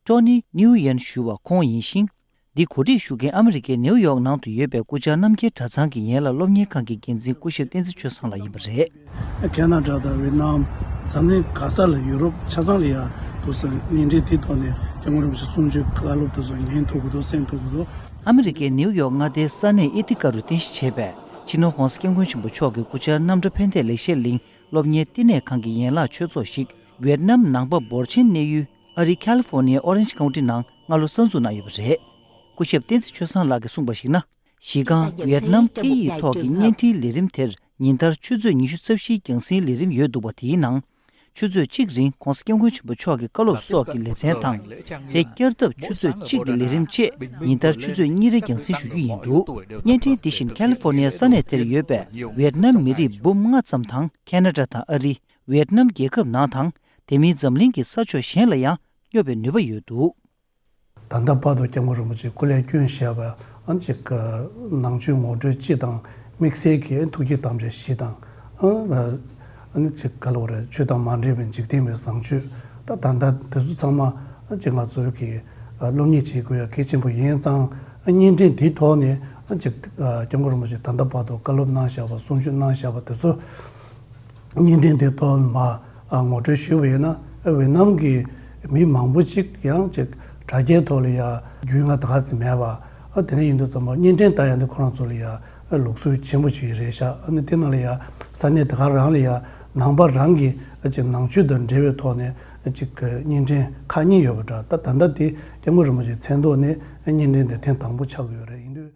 Tony Nguyen ཞུ་བ་ཁོང་ཡིན་ཞིང། འདི་གོ་སྒྲིག་ཞུ་མཁན་ཨ་མི་རི་ཀའི་ནེའུ་ཡོག་ནང་དུ་ཡོད་པའི་སྐུ་བཅར་རྣམ་རྒྱལ་གྲྭ་ཚང་གི་ཡན་ལག་སློབ་གཉེར་ཁང་གི་འགན་འཛིན་སྐུ་ཞབས་བསྟན་འཛིན་ཆོས་བཟང་ལགས་ཡིན་པ་རེད། ཀན་ན་རྒྱ་དང་ཝེད་ནམ། འཛམ་གླིང་ག་ས་ལ་ཡུ་རོབ་ཆ་ཚང་རེད་ཡ་འདུག་སོ་ཉིན་རེའི་དེའི་ཐོག་ནས་རྒྱ་དངུལ་རིན་པོ་ཆེ་སུམ་ཅུའི་བཀའ་སློབ་དེ་ཚོ་ཉན་ཐུབ་གི་འདུག་གསན་ཐུབ་གི་འདུག། ཨ་མི་རི་ཀའི་ནེའུ་ཡོག་མངའ་སྡེའི་ས་གནས་ཨེ་ཐི་ཀ་རུ་རྟེན་གཞི་བྱས་པའི་ཆི་ནུ་ཧོང་སྐྱབས་མགོན་ཆེན་པོ་མཆོག་གི་སྐུ་བཅར་རྣམ་གྲྭ་ཕན་བདེ་ལེགས་བཤད་གླིང་སློབ་གཉེར་བསྟི་གནས་ཁང་གི་ཡན་ལག་ཆོས་ཚོགས་ཤིག་ཝེད་ནམ་ནང་པ་འབོར་ཆེན་གནས་ཡུལ་ཨ་རིའི་ཁཱ་ལི་ཧྥོ་ནི་ཡའི་ཨོ་རེན་ཇི་ཁའུ་ཏི་ནང་སྔ་ལོ་གསར་འཛུགས་གནང་ཡོད་པ་རེད། སྐུ་ཞབས་བསྟན་འཛིན་ཆོས་བཟང་ལགས་ཀྱིས་གསུངས་པར་གཞིགས་ན། གཞི་རྐང་ཝིཡེད་ནམ་སྐད་ཡིག་ཐོག་གི་བརྙན་འཕྲིན་ལས་རིམ་དེར་ཉིན་ལྟར་ཆུ་ཚོད་ཉི་ཤུ་རྩ་བཞིའི་རྒྱང་སྲིང་ལས་རིམ་ཡོད་འདུག་པ་དེའི་ནང། ཆུ་ཚོད་གཅིག་རིང ྋགོང་ས ྋསྐྱབས་མགོན་ཆེན་པོ་མཆོག་གི་བཀའ་སློབ་སོགས་ཀྱི་ལེ་ཚན་དང། དེ་བསྐྱར་ཐབས་ཆུ་ཚོད་གཅིག་གི་ལས་རིམ་བཅས་ཉིན་ལྟར་ཆུ་ཚོད་གཉིས་རེ་རྒྱང་སྲིང་ཞུ་རྒྱུ་ཡིན་འདུག་བརྙན་འཕྲིན་འདི་བཞིན་ཁཱ་ལི་ཧྥོ་ནི་ཡའི་ས་གནས་དེར་ཡོད་པའི་ཝིཡེད་ནམ་མི་རིགས་འབུམ་ལྔ་ཙམ་དང་ཁཱ་ནཱ་ཏྲ་དང་ཨ་རི། ཝིཡེད་ནམ་རྒྱལ་ཁབ་ནང་དང། དེ་མིན་འཛམ་གླིང་གི་ས་ཕྱོགས་གཞན་ལ་ཡང་སྙོབ་པའི་ནུས་པ་ཡོད་འདུག། ད་ལྟ་དཔའ་རྡོ་སྐྱབས་མགོན་རིན་པོ་ཆེ་སྐུ་ལས་བསྐྱོན་བཞག་པ་ཅིག་ནང་ཆོས་ངོ་སྤྲོད་སྤྱི་དང་དམིགས་བསལ་གྱི་ཐུགས་ཀྱི་དམ་བཅའ་བཞི་དང། ག་ལ་བ་རེ་ཆོས་དང་མ་འབྲེལ་བའི་འཇིག་རྟེན་པའི་བཟང་སྤྱོད་ད་ལྟ་དེ་ཚོ་ཚང་མ་ཅིག་ང་ཚོས་ཀྱིས་སློབ་གཉེར་བྱེད་དགོས་ཡ་གལ་ཆེན་པོ་ཡིན་ཙང་བརྙན་འཕྲིན་དེའི་ཐོག་ནས་ཅིག་སྐྱབས་མགོན་རིན་པོ་ཆེ་ད་ལྟ་དཔའ་རྡོ་བཀའ་སློབ་གནང་བཞག་པ་གསུང་ཆོས་གནང་བཞག་པ་དེ་ཚོ། བརྙན་འཕྲིན་དེ་གཏོར་མ་ངོ་སྤྲོད་ཞུས་པ་ཡིན་ན་ཝེ་ནམ་གྱི་མི་མང་པོ་ཅིག་ཡང་ཅིག་དྲ་རྒྱའི་ཐོག་ལ་ཡ་རྒྱུས་མངའ་ད་ཙམ་མེད་པ་དེ་འདྲ་ཡིན་འདུག་ཙམ་པ་བརྙན་འཕྲིན་ལྟ་ཡ་འདི་ཁོ་རང་ཚོ་ལ་ཡ་ལུགས་སྲོལ་ཆེན་པོ་ཅིག་རེད་ཤག་ཨ་ནི་དེ་ནང་ལ་ཡ་ས་གནས་དེ་ག་རང་ལ་ཡ་ནང་པ་རང་གི་ཅིག་ནང་ཆོས་དང་འབྲེལ་བའི་ཐོག་ནས་ཅིག་བརྙན་འཕྲིན་ཁག་གཉིས་ཡོད་པ་འདྲ་ད་ད་ལྟ་དེ་སྐྱབས་མགོན་རིན་པོ་ཆེའི་མཚན་ཐོག་ནས་བརྙན་འཕྲིན་དེ་ཐེངས་དང་པོ་ཆགས་ཡོད་རེད་འདུག།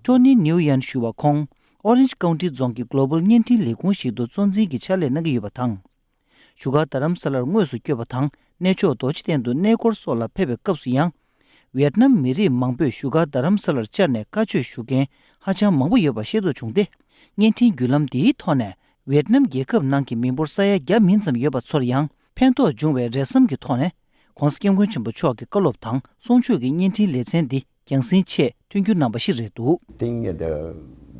ཀྲོ་ནི་ནིའུ་ཡན་ཞུ་བ་ཁོང། Orange County རྫོང་གི Global བརྙན་འཕྲིན་ལས་ཁུངས་ཤིག་ཏུ་གཙོ་འཛིན་གྱི་ཕྱག་ལས་གནང་གི་ཡོད་པ་དང། བཞུགས་སྒར་རྡ་རམ་ས་ལར་དངོས་སུ་བསྐྱོད་པ་དང་གནས་མཆོག་རྡོ་རྗེ་གདན་དུ་གནས་སྐོར་སོགས་ལ་ཕེབས་པའི་སྐབས་སུ་ཡང། ཝེར་ནམ་མི་རིགས་མང་པོས་བཞུགས་སྒར་རྡ་རམ་ས་ལར་བཅར་ནས་བཀའ་ཆོས་ཞུ་མཁན་ཧ་ཅང་མང་པོ་ཡོད་པ་ཤེས་རྟོགས་བྱུང་སྟེ། བརྙན་འཕྲིན་བརྒྱུད་ལམ་འདིའི་ཐོག་ནས་ཝེར་ནམ་རྒྱལ་ཁབ་ནང་གི་མི་འབོར་ས་ཡ་བརྒྱ་མིན་ཙམ་ཡོད་པ་ཚོར་ཡང་ཕན་ཐོགས་འབྱུང་བའི་རེ་བསམ་གྱི་ཐོག་ནས། ྋགོང་ས ྋསྐྱབས་མགོན་ཆེན་པོ་མཆོག་གི་བཀའ་སློབ་དང་གསུང་ཆོས་ཀྱི་བརྙན་འཕྲིན་ལེ་ཚན་འདི་རྒྱང་སྲིང་ཆེས་མཐུན་རྒྱུ་རྣམ་པ་ཞིག་རེད་འདུག། Think the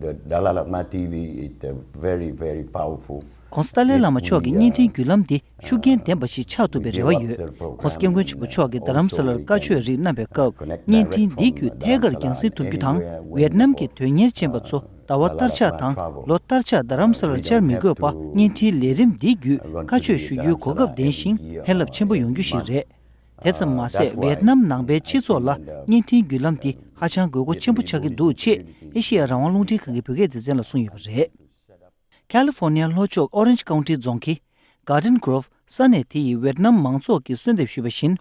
the Dalai Lama TV is the very very powerful ཁོང་ས་ཏྭ་ལའི་བླ་མ་མཆོག་གི་བརྙན་འཕྲིན་བརྒྱུད་ལམ་འདི་ཤུགས་རྐྱེན་ལྡན་པ་ཞིག་ཆགས་ཐུབ་པའི་རེ་བ་ཡོད། ཁོང་སྐྱབས་མགོན་ཆེན་པོ་མཆོག་གིས་རྡ་རམ་ས་ལར་བཀའ་ཆོས་རིགས་བསྣམས་པའི་སྐབས་བརྙན་འཕྲིན་འདི་བརྒྱུད་ཐད་ཀར་རྒྱང་སྲིང་ཐུབ་རྒྱུ་དང་ཝེར་ནམ་གྱི་དོན་གཉེར་ཅན་པ་ཚོ་ཟླ་བ་ལྟར་ཆགས་དང་ལོ་ལྟར་ཆགས་རྡ་རམ་ས་ལར་བཅར་མི་དགོས་པ་བརྙན་འཕྲིན་ལས་རིམ་འདི་བརྒྱུད་བཀའ་ཆོས་ཞུ་རྒྱུའི་གོ་སྐབས་ལྡན་ཞིང་ཕན་རླབས་ཆེན་པོ་ཡོང་རྒྱུ་ཞིག་རེད། དེ་ཙམ་མ་ཟད་ཝེ་ཨེར་ནམ་ནང་པའི་སྤྱི་ཚོགས་ལ་བརྙན་འཕྲིན་བརྒྱུད་ལམ་འདི་ཧ་ཅང་དགོས་མཁོ་ཆེན་པོ་ཆགས་ཀྱི་འདུག་ཅེས་ཨེ་ཤེ་ཡ་རང་དབང་རླུང་འཕྲིན་ཁང་གི་བོད་སྐད་སྡེ་ཚན་ལ་གསུངས་ཡོད་པ་རེད། California ལྷོ་ཕྱོགས Orange County རྫོང་གི། Garden Grove། ས་གནས་དེ་ཡིས་ཝེ་ཨེར་ནམ་མང་ཚོགས་ཀྱིས་གསོལ་འདེབས་ཞུས་པ་བཞིན།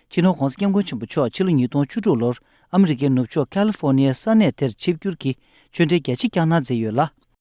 སྤྱི་ནོར ྋགོང་ས ྋསྐྱབས་མགོན་ཆེན་པོ་མཆོག་ཕྱི་ལོ་ཉིས་སྟོང་བཅུ་དྲུག་ལོར་ཨ་མི་རི་ཀའི་ནུབ་ཕྱོགས California ས་གནས་དེར་ཆིབས་བསྒྱུར་གྱིས་ཆོས་འབྲེལ་རྒྱ་ཆེ་བསྐྱངས་གནང་མཛད་ཡོད་ལ།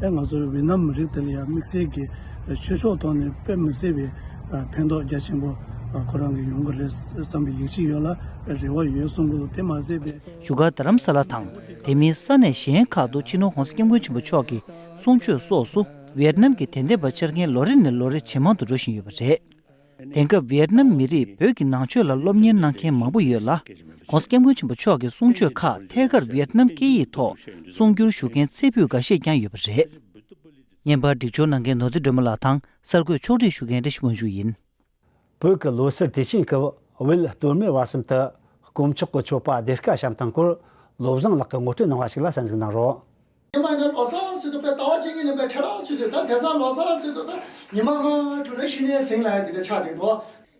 ང་ཚོའི་ཝེ་ནམ་མི་རིགས་དེ་ལ་ཡང་དམིགས་བསལ་གྱི་ཆོས་ཕྱོགས་ཐོག་ནས་དཔེ་མི་སྲིད་པའི་ཕན་ཐོགས་རྒྱ་ཆེན་པོ་ཁོ་རང་གིས་ཡོང་གི་རེད་བསམ་པའི་ཡིད་ཆེས་ཡོད་ལ་རེ་བ་ཡོད་གསུངས་འདུག་དེ་མ་ཟད་པའི། བཞུགས་སྒར་རྡ་རམ་ས་ལ་དང་དེ་མིན་ས་གནས་གཞན་ཁག་ཏུ་ཕྱི་ནང་གོང་ས་སྐྱབས་མགོན་ཆེན་པོ་མཆོག་གི་གསུང་ཆོས་སོགས་སུ་ཝེར་ནམ་གྱི་དད་ལྡན་པ་འཆར་མཁན་ལོ་རེ་ནས་ལོ་རེ་ཇེ་མང་དུ་འགྲོ་བཞིན་ཡོད་པ་རེད། དེང་སྐབས་བི་ཡེད་ནམ་མི་རིགས་བོད་ཀྱི་ནང་ཆོས་ལ་སློབ་གཉེར་གནང་མཁན་མང་པོ་ཡོད་ལ། ྋགོང་ས ྋསྐྱབས་མགོན་ཆེན་པོ་མཆོག་གི་གསུང་ཆོས་ཁག་ཐད་ཀར་བི་ཡེད་ནམ་སྐད་ཡིག་ཐོག་གསུང་བསྒྱུར་ཞུ་མཁན་ཚད་ཕུད་འགའ་ཤས་ཀྱང་ཡོད་པ་རེད། བརྙན་པར་སྒྲིག་སྦྱོར་གནང་མཁན་ནོར་རྫི་སྒྲོལ་མ་ལགས་དང་གསར་འགོད་ཕྱོགས་བསྒྲིགས་ཞུ་མཁན་བཀྲ་ཤིས་དབང་ཕྱུག་ཡིན། བོད་ཀྱི་ལོ་སར་དུས་ཆེན་སྐབས་དབུས་སྟོད་སྨད་བར་གསུམ་དུ་དཀོན་མཆོག་གི་མཆོད་པ་སྡེར་ཁ་བཤམས་དང་སྐོར་བློ་བཟང་ལགས་ཀྱིས་ངོ་སྤྲོད་གནང་བ་ཞིག་ལ་གསན་གཟིགས་གནང་རོགས། ཉི་མ་ལྔའི་ལོ་སར་ཚུལ་དུ་དཔལ་རྟ་བ་ཅན་གྱི་ལེན་པའི་ཁྲི་རལ་ཚུལ་ཆོས་ཟླ་དེ་སང་ལོ་སར་ཚུལ་དུ་ཉི་མ་ལྔ་དྲུག་རེ་ཤི་ནས་གཟིངས་ལ་ཡང་དེ་འདྲ་ཆགས་འདུག་དོ།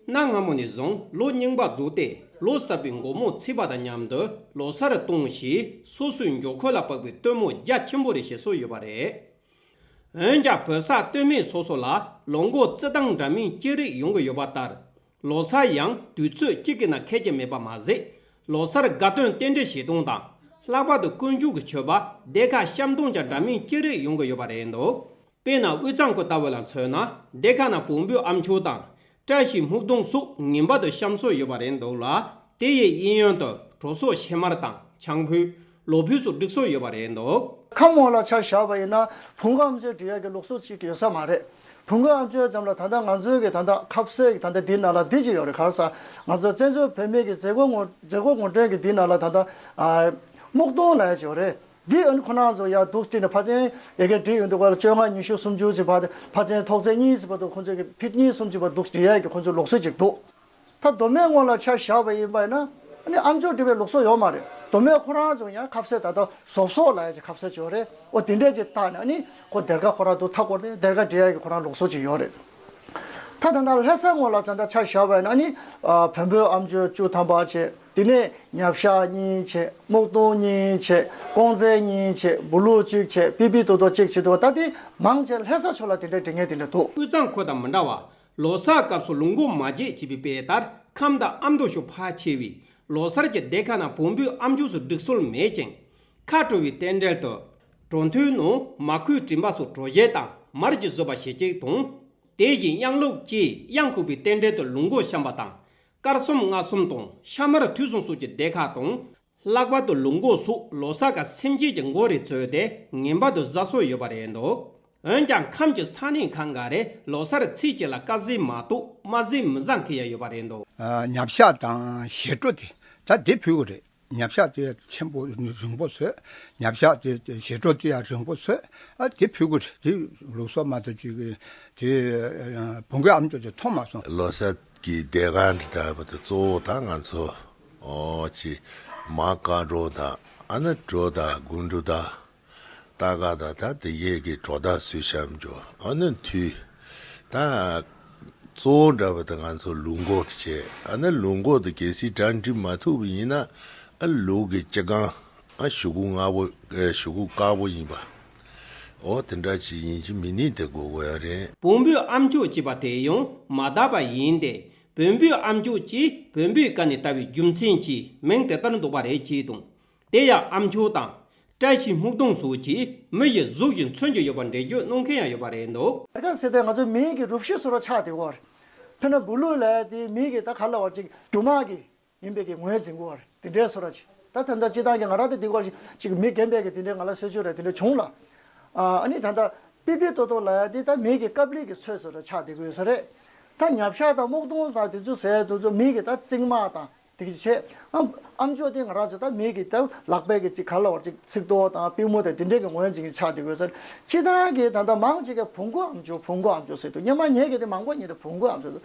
གནའ་སྔ་མོ་ནས་བཟུང་ལོ་རྙིང་པ་རྫོགས་ཏེ་ལོ་གསར་པའི་མགོ་མོ་ཚིག་པ་དང་མཉམ་དུ་ལོ་སར་གཏོང་ཞེས་སོ་སོའི་མགྱོགས་ཁོལ་ལ་དཔག་པའི་སྟོན་མོ་རྒྱ་ཆེན་པོ་རེ་ཞེས་སོགས་ཡོད་པ་རེད། འོན་ཀྱང་བོད་ས་སྟོད་སྨད་སོ་སོ་ལ་ལོ་འགོ་རྩིས་སྟངས་འདྲ་མིན་ཅི་རིགས་ཡོང་གི་ཡོད་པ་ལྟར་ལོ་སར་ཡང་དུས་ཚོད་གཅིག་གི་ནང་ཁེལ་གྱི་མེད་པ་མ་ཟད། ལོ་སར་དགའ་སྟོན་རྟེན་འབྲེལ་བྱེད་སྟངས་དང། ལྷག་པར་དུ་དཀོན་མཆོག་གི་མཆོད་པ་སྡེ་ཁག་བཤམ་སྟངས་ཀྱང་འདྲ་མིན་ཅི་རིགས་ཡོང་གི་ཡོད་པ་རེད་འདུག་དཔེར་ན་དབུས་གཙང་ཁུལ་ལྟ་བུ་ལ་མཚོན་ན་སྡེ་ཁག་ནང་བོང་བུའི་ཨ་མཆོད་དང། བཀྲ་ཤིས་སྨུག་སྡོང་སོགས་ངེས་པར་དུ་བཤམ་སྲོལ་ཡོད་པ་རེད་འདུག་ལ། དེ་ཡི་དབྱིན་ཡོན་དུ་གྲོ་སོགས་ཕྱེ་མར་དང་ཆང་ཕུད། ལོ་བུས་སུ་སྒྲིག་སྲོལ་ཡོད་པ་རེད་འདུག། ཁམས་འོག་ལ་ཆ་བཞག་པ་ཡིན་ན་བུང་ག་ཨམ་ཅོད་འབྲི་ཡག་གི་ལུགས་སྲོལ་ཅིག་ཡོད་ས་མ་རེད། བུང་ག་ཨམ་ཅོད་ཙམ་ལ་ད་ལྟ་ང་ཚོའི་གི་ད་ལྟ་ཁབ་བསད་གི་ད་ལྟ་འདི་ན་ལ་འདི་ཅིག་ཡོད་རེད་ག་ས་ང་ཚོ་བཙན་བྱོལ་བོད་མི་གི་མཛད་སྒོ་ངོ་མཛད་སྒོ་ངོ་སྤྲོད་གི་འདི་ན་ལ་ད་ལྟ་སྨུག་སྟོང་ལ་ཡ་ཅིག་ཡོད་རེད་འདི་ཨོན་ཁོ་ན་ཚོ་ཡག་འདུག་བཀྲིས་ནས་ཕ་ཚན་ཡ་གི་འབྲི་ཡོད་འདུག་བ་ལ་བཅོ་ལྔ་ཉི་ཤུ་སུམ་ཅུ་ཅིག་བ་ཕ་ཚན་ཐོག་ཚན་གཉིས་ཅིག་བ་འདུག་ཁོ་ཚོའི་གི་ཕིད་གཉིས་གསུམ་ཅིག་བ་འདུག་འབྲི་ཡག་གི་ཁོ་ཚོའི་ལུགས་སྲོལ་ཅིག་འདུག། ད་གདོད་མའི་སྔོན་ལ་ཆ་བཞག་པ་ཡིན་པ་ཡིན་ན། ཨ་མཆོག་འདྲི་བའི་ལུགས་སྲོལ་ཡོད་མ་རེད། གདོད་མའི་ཁོ་རང་ཚོ་ཡང་ཁ་བསད་ད་ལྟ་ཟོག་ཟོག་ལ་ཡང་ཁ་བསད་བྱས་ཡོད་རེད། འོ་དེ་འདྲས་ཀྱི་རྟགས་ནས་ནི་ཁོ་སྡེར་ཁ་ཁོ་རང་དུ་ཐག་བསྐོར་ཏེ་སྡེར་ཁ་འབྲི་ཡག་གི་ཁོ་རང་ལུགས་སྲོལ་ཅིག་ཡོད་རེད། ད་ད་ལྟ་ལྷ་སའི་སྔོན་ལ་ཚང་ད་ཆ་བཞག་པ་ཡིན་ན་ནི། བོན་པོའི་ཨ་མཆོད་བཅུ་ཐམ་པ་བྱས། དེ་ནས་ཉྭ་བཤགས་གཉིས་བྱས། སྨུག་སྟོང་གཉིས་བྱས། ཀོང་རྩལ་གཉིས་བྱས། འབུ་ལུག་གཅིག་བྱས། པི་པི་ཏོ་ཏོ་གཅིག་བྱས་འདུག་ད་དེ་མང་ཆེ་ལྷ་ས་ཕྱོགས་ལ་དེ་འདྲའི་དྲི་ངན་དེ་འདྲ་འདུག། དབུས་གཙང་ཁོ་དང་མི་འདྲ་བ། ལོ་གསར་སྐབས་སུ་ལུང་སྒོ་མ་བརྒྱད་ཅེས་པའི་དཔེ་ལྟར་ཁམས་བདག་ཨ་མདོ་ཤོ་ཕག་ཆེ་བས་ལོ་གསར་གྱི་སྡེ་ཁག་རྣམས་བོང་བུའི་ཨ་མཆོག་སུ་བསྒྲིགས་སྲོལ་མེད་ཅིང། ཁ་དྲོ་བའི་རྟེན་འབྲེལ་དུ། གྲོ་མཐུན་ནུ་མ་ཁོས་བྲིན་པ་སོགས་གྲོ་ཞལ་དང་མར་གྱིས་བཟོས་པ་ཞེ་གཅིག་དང། དེ་བཞིན་གཡང་ལུག་ཅེས་གཡང་ཁུག་པའི་རྟེན་འབྲེལ་དུ་ལུང་སྒོ་བཤམས་པ་དང། དཀར་གསུམ་རྔ་གསུམ་དང་ཤ་མར་དུས་གསུམ་སོགས་ཀྱི་སྡེ་ཁག་དང་ལྷག་པར་དུ་ལུག་འགོག་སུག་ལོ་ས་ག་སེམས་སྐྱིད་ཀྱི་འགོ་རེ་བཙོས་ཏེ་ངན་པ་དུ་བཟའ་སྲོལ་ཡོད་པ་རེད་འདུག་འོན་ཀྱང་ཁམས་ཀྱི་ས་གནས་ཁག་འགའ་རེས་ལོ་སར་ཚིགས་གཅིག་ལ་ཀ་བཟས་མ་གཏོགས་མ་བཟས་མི་བཟང་གི་ཡ་ཡོད་པ་རེད་འདུག། ཉྭ་བཤགས་དང་ཞེ་སྤྲོ་དེ་ད་དེ་ཕུལ་བ་རེད་ཉྭ་བཤགས་དེ་ཡ་ཆེན་པོ་རིང་པོ་བཟོས་ཉྭ་བཤགས་དེ་ཞེ་སྤྲོ་དེ་ཡ་རིང་པོ་བཟོས་ཨ་དེ་ཕུལ་གི་རེད་དེ་ལུག་སོག་མ་དང་གཅིག་གི་དེ་བུང་གི་ཨམ་ཆུ་དེ་འཐུང་མ་སོང། ལོ་ས་གི་སྡེ་ཁག་འདི་དག་པ་དེ་གཙོ་བོ་ད་ང་ཚོ་ཅེས། མ་མཁའ་འགྲོ་དང་ཨ་ནུ་འགྲོ་དང་དགུན་འགྲོ་དང། རྟ་སྒ་དང་ད་ཏི་བརྒྱད་ཀྱི་གྲོགས་དག་བསུས་བྱམས་ཀྱི་ཨ་ནུ་མཐུས། ད། གཙོ་བོ་འདྲ་བ་དང་ང་ཚོ་ལུག་འགོག་ཏུ་ཆས་ཨ་ནི་ལུག་འགོག་ཏུ་གལ་སྲིད་གྲ་འགྲིག་མ་ཐུབ་པ་ཡིན་ན་ཨ་ལུག་གི་སྤྱི་སྒང་ཨ་ཞུ་གུ་སྔ་བོ་ཞུ་གུ་དཀར་པོ་ཡིན་པ། འོ་དེ་འདྲ་ཅིག་ཡིན་གྱི་མི་ནི་དེ་དགོས་དགོས་ཡ་རེད། བོང་བུའི་ཨམ་ཅོག་ཅེས་པ་དེ་ཡང་མ་དག་པ་ཡིན་ཏེ་བོན་པོའི་ཨམ་ཆོས་ཀྱིས་བོན་པོའི་བཀའ་ནས་བཏགས་པའི་རྒྱུ་མཚན་གྱིས་མིང་དེ་ལྟར་འདོགས་པ་རེད་ཅེས་དང། དེ་ཡང་ཨམ་ཆོས་དང། བཀྲ་ཤིས་སྨུག་སྡོང་སོགས་ཀྱིས་མི་ཡི་གཟུགས་ཀྱི་མཚོན་གྱི་ཡོད་པར་འགྲེལ་བརྗོད་གནང་མཁན་ཡང་ཡོད་པ་རེད་འདུག། ད་ག་ཟེ་དེ་ང་ཚོའི་མིང་གི་རུབ་ཤུལ་ཟེར་བ་ཆགས་དེ་བོར། འཕེན་ན་འབུ་ལུག་ལ་དེའི་མིང་གི་ད་ག་ལ་བར་ཅིག་འབྲུ་མར་གི་ངན་པས་ཀྱི་ངོས་འཛིན་གོ་བར་དེ་འདྲའི་སོ་ར་ཅི། ད་ད་ལྟ་ཅི་ཐང་གི་ང་ར་ཏི་དེ་གོར་ཅིག་མི་རྒན་པས་ཀྱི་དེ་འདྲའི་ང་ལ་སེ་ཆོས་ར་དེ་འདྲ་བྱུང་ལ། ཨ་ནི་ད་ད་པི་པི་ཏོ་ཏོ་ལ་ཡ་དེ་ད་མི་གི་ཀ་པི་ཀི་ཚོས་སོ་ར་ཆགས་དེ་གོས་ས་རེད། ད་ཉབ་ཤ་དང་སྨུག་སྟོང་ད་དེ་ཚོ་ཟས་དེ་ཚོ་མི་གི་ད་རྩིག་མ་དང་དེ་གི་ཆེ། ཨ་མཆོག་དེ་ང་ར་ཅི་ད་མི་གི་ད་ལག་པས་ཀྱི་ཅིག་ག་ལ་བར་ཅིག་ཚིག་ཏོ་དང་པི་མོ་ད་དེ་འདྲའི་ཀྱི་ངོས་འཛིན་གྱི་ཆགས་དེ་གོས་ས་རེད། ཅི་ཐང་གི་ད་ད་མང་ཅིག་ག་བུ་མགོ་ཨ་མཆོག་བུ་མགོ་ཨ་མཆོག་ཟེར་དུ་སྙ་མ་ཉེ་གི་དེ་མང་པོ་ཉེ་དེ་བུ་མགོ་ཨ་མཆོག་ཟེར།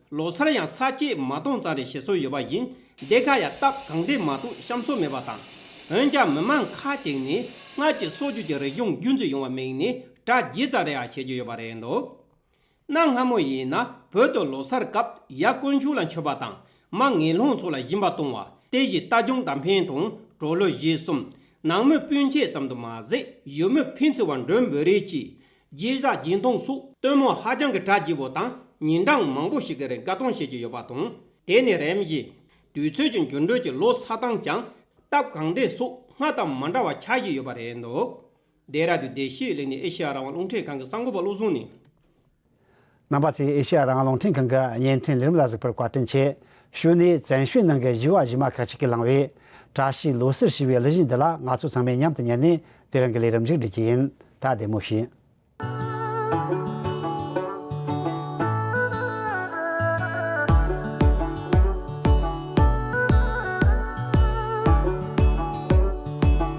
ལོ་སར་ཡང་ས་སྐྱེས་མ་སྟོང་ཙམ་རེ་བྱེད་སྲོལ་ཡོད་པ་ཡིན། འདི་ག་ཡང་སྟབས་གང་བདེ་མ་གཏོགས་བཤམས་སྲོལ་མེད་པ་དང། འོན་ཀྱང་མི་མང་ཁ་ཅིག་ནི་སྔར་གྱི་སྲོག་གཅོད་ཀྱི་རིག་གཞུང་རྒྱུན་འཛིན་ཡོང་བར་དམིགས་ནས་གྲ་རྒྱས་ཙམ་རེའང་བྱེད་ཀྱི་ཡོད་པ་རེད་འདུག། གནའ་སྔ་མོ་ཡིན་ན་བོད་དུ་ལོ་སར་སྐབས་ཡ་དཀོན་མཆོག་ལ་མཆོད་པ་དང་མ་ངེས་ལྷུང་ཚོ་ལ་སྦྱིན་པ་གཏོང་བ་དེ་བཞིན་རྟ་རྒྱུང་དར་འཕན་དང་གྲོ་ལོད་བཞི་གསུམ། ནང་མི་སྤུན་མཆེད་ཙམ་དུ་མ་ཟད་ཡུལ་མི་ཕན་ཚུན་བར་མགྲོན་འབོད་རེས་ཀྱིས་རྗེས་བཞག་རྗེས་མཐོང་སོགས་སྟོན་མོ་ཧ་ཅང་གི་གྲ་རྒྱས་པོ་དང་ཉིན་གྲངས་མང་པོ་ཞིག་གི་རིང་དགའ་སྟོན་བྱེད་ཀྱི་ཡོད་པ་དང་དེ་ནི་རེམ་བཞིན་དུས་ཚོད་ཀྱི་འགྱུར་འགྲོས་ཀྱི་ལོ་སར་དང་ཀྱང་སྟབས་གང་བདེ་སོགས་སྔར་དང་མ་འདྲ་བ་ཆགས་ཀྱི་ཡོད་པ་རེད་འདུག་རྡེ་ར་དུ་རྡེ་ཤེས་གླིང་ནས་ཨེ་ཤེ་ཡ་རང་དབང་རླུང་འཕྲིན་ཁང་གི་གསར་འགོད་པ་བློ་བཟང་ནི། ནང་པ་ཚོས་ཨེ་ཤེ་ཡ་རང་རླུང་འཕྲིན་ཁང་གི་བརྙན་འཕྲིན་ལས་རིམ་ལ་གཟིགས་པར་བཀའ་དྲིན་ཆེ་ཞུས་ནས་བཙན་བྱོལ་ནང་གི་བཞི་བ་བཞི་མ་ཁག་ཅིག་གིས་བླངས་བའི། བཀྲ་ཤིས་ལོ་གསར་ཞེས་པའི་གླུ་གཞས་འདི་ལ་ང་ཚོ་ཚང་མས་མཉམ་དུ་ཉན་ནས་དེ་རིང་གི་ལས་རིམ་མཇུག་སྒྲིལ་གྱི་ཡིན། ད་བདེ་མོ་བྱོས།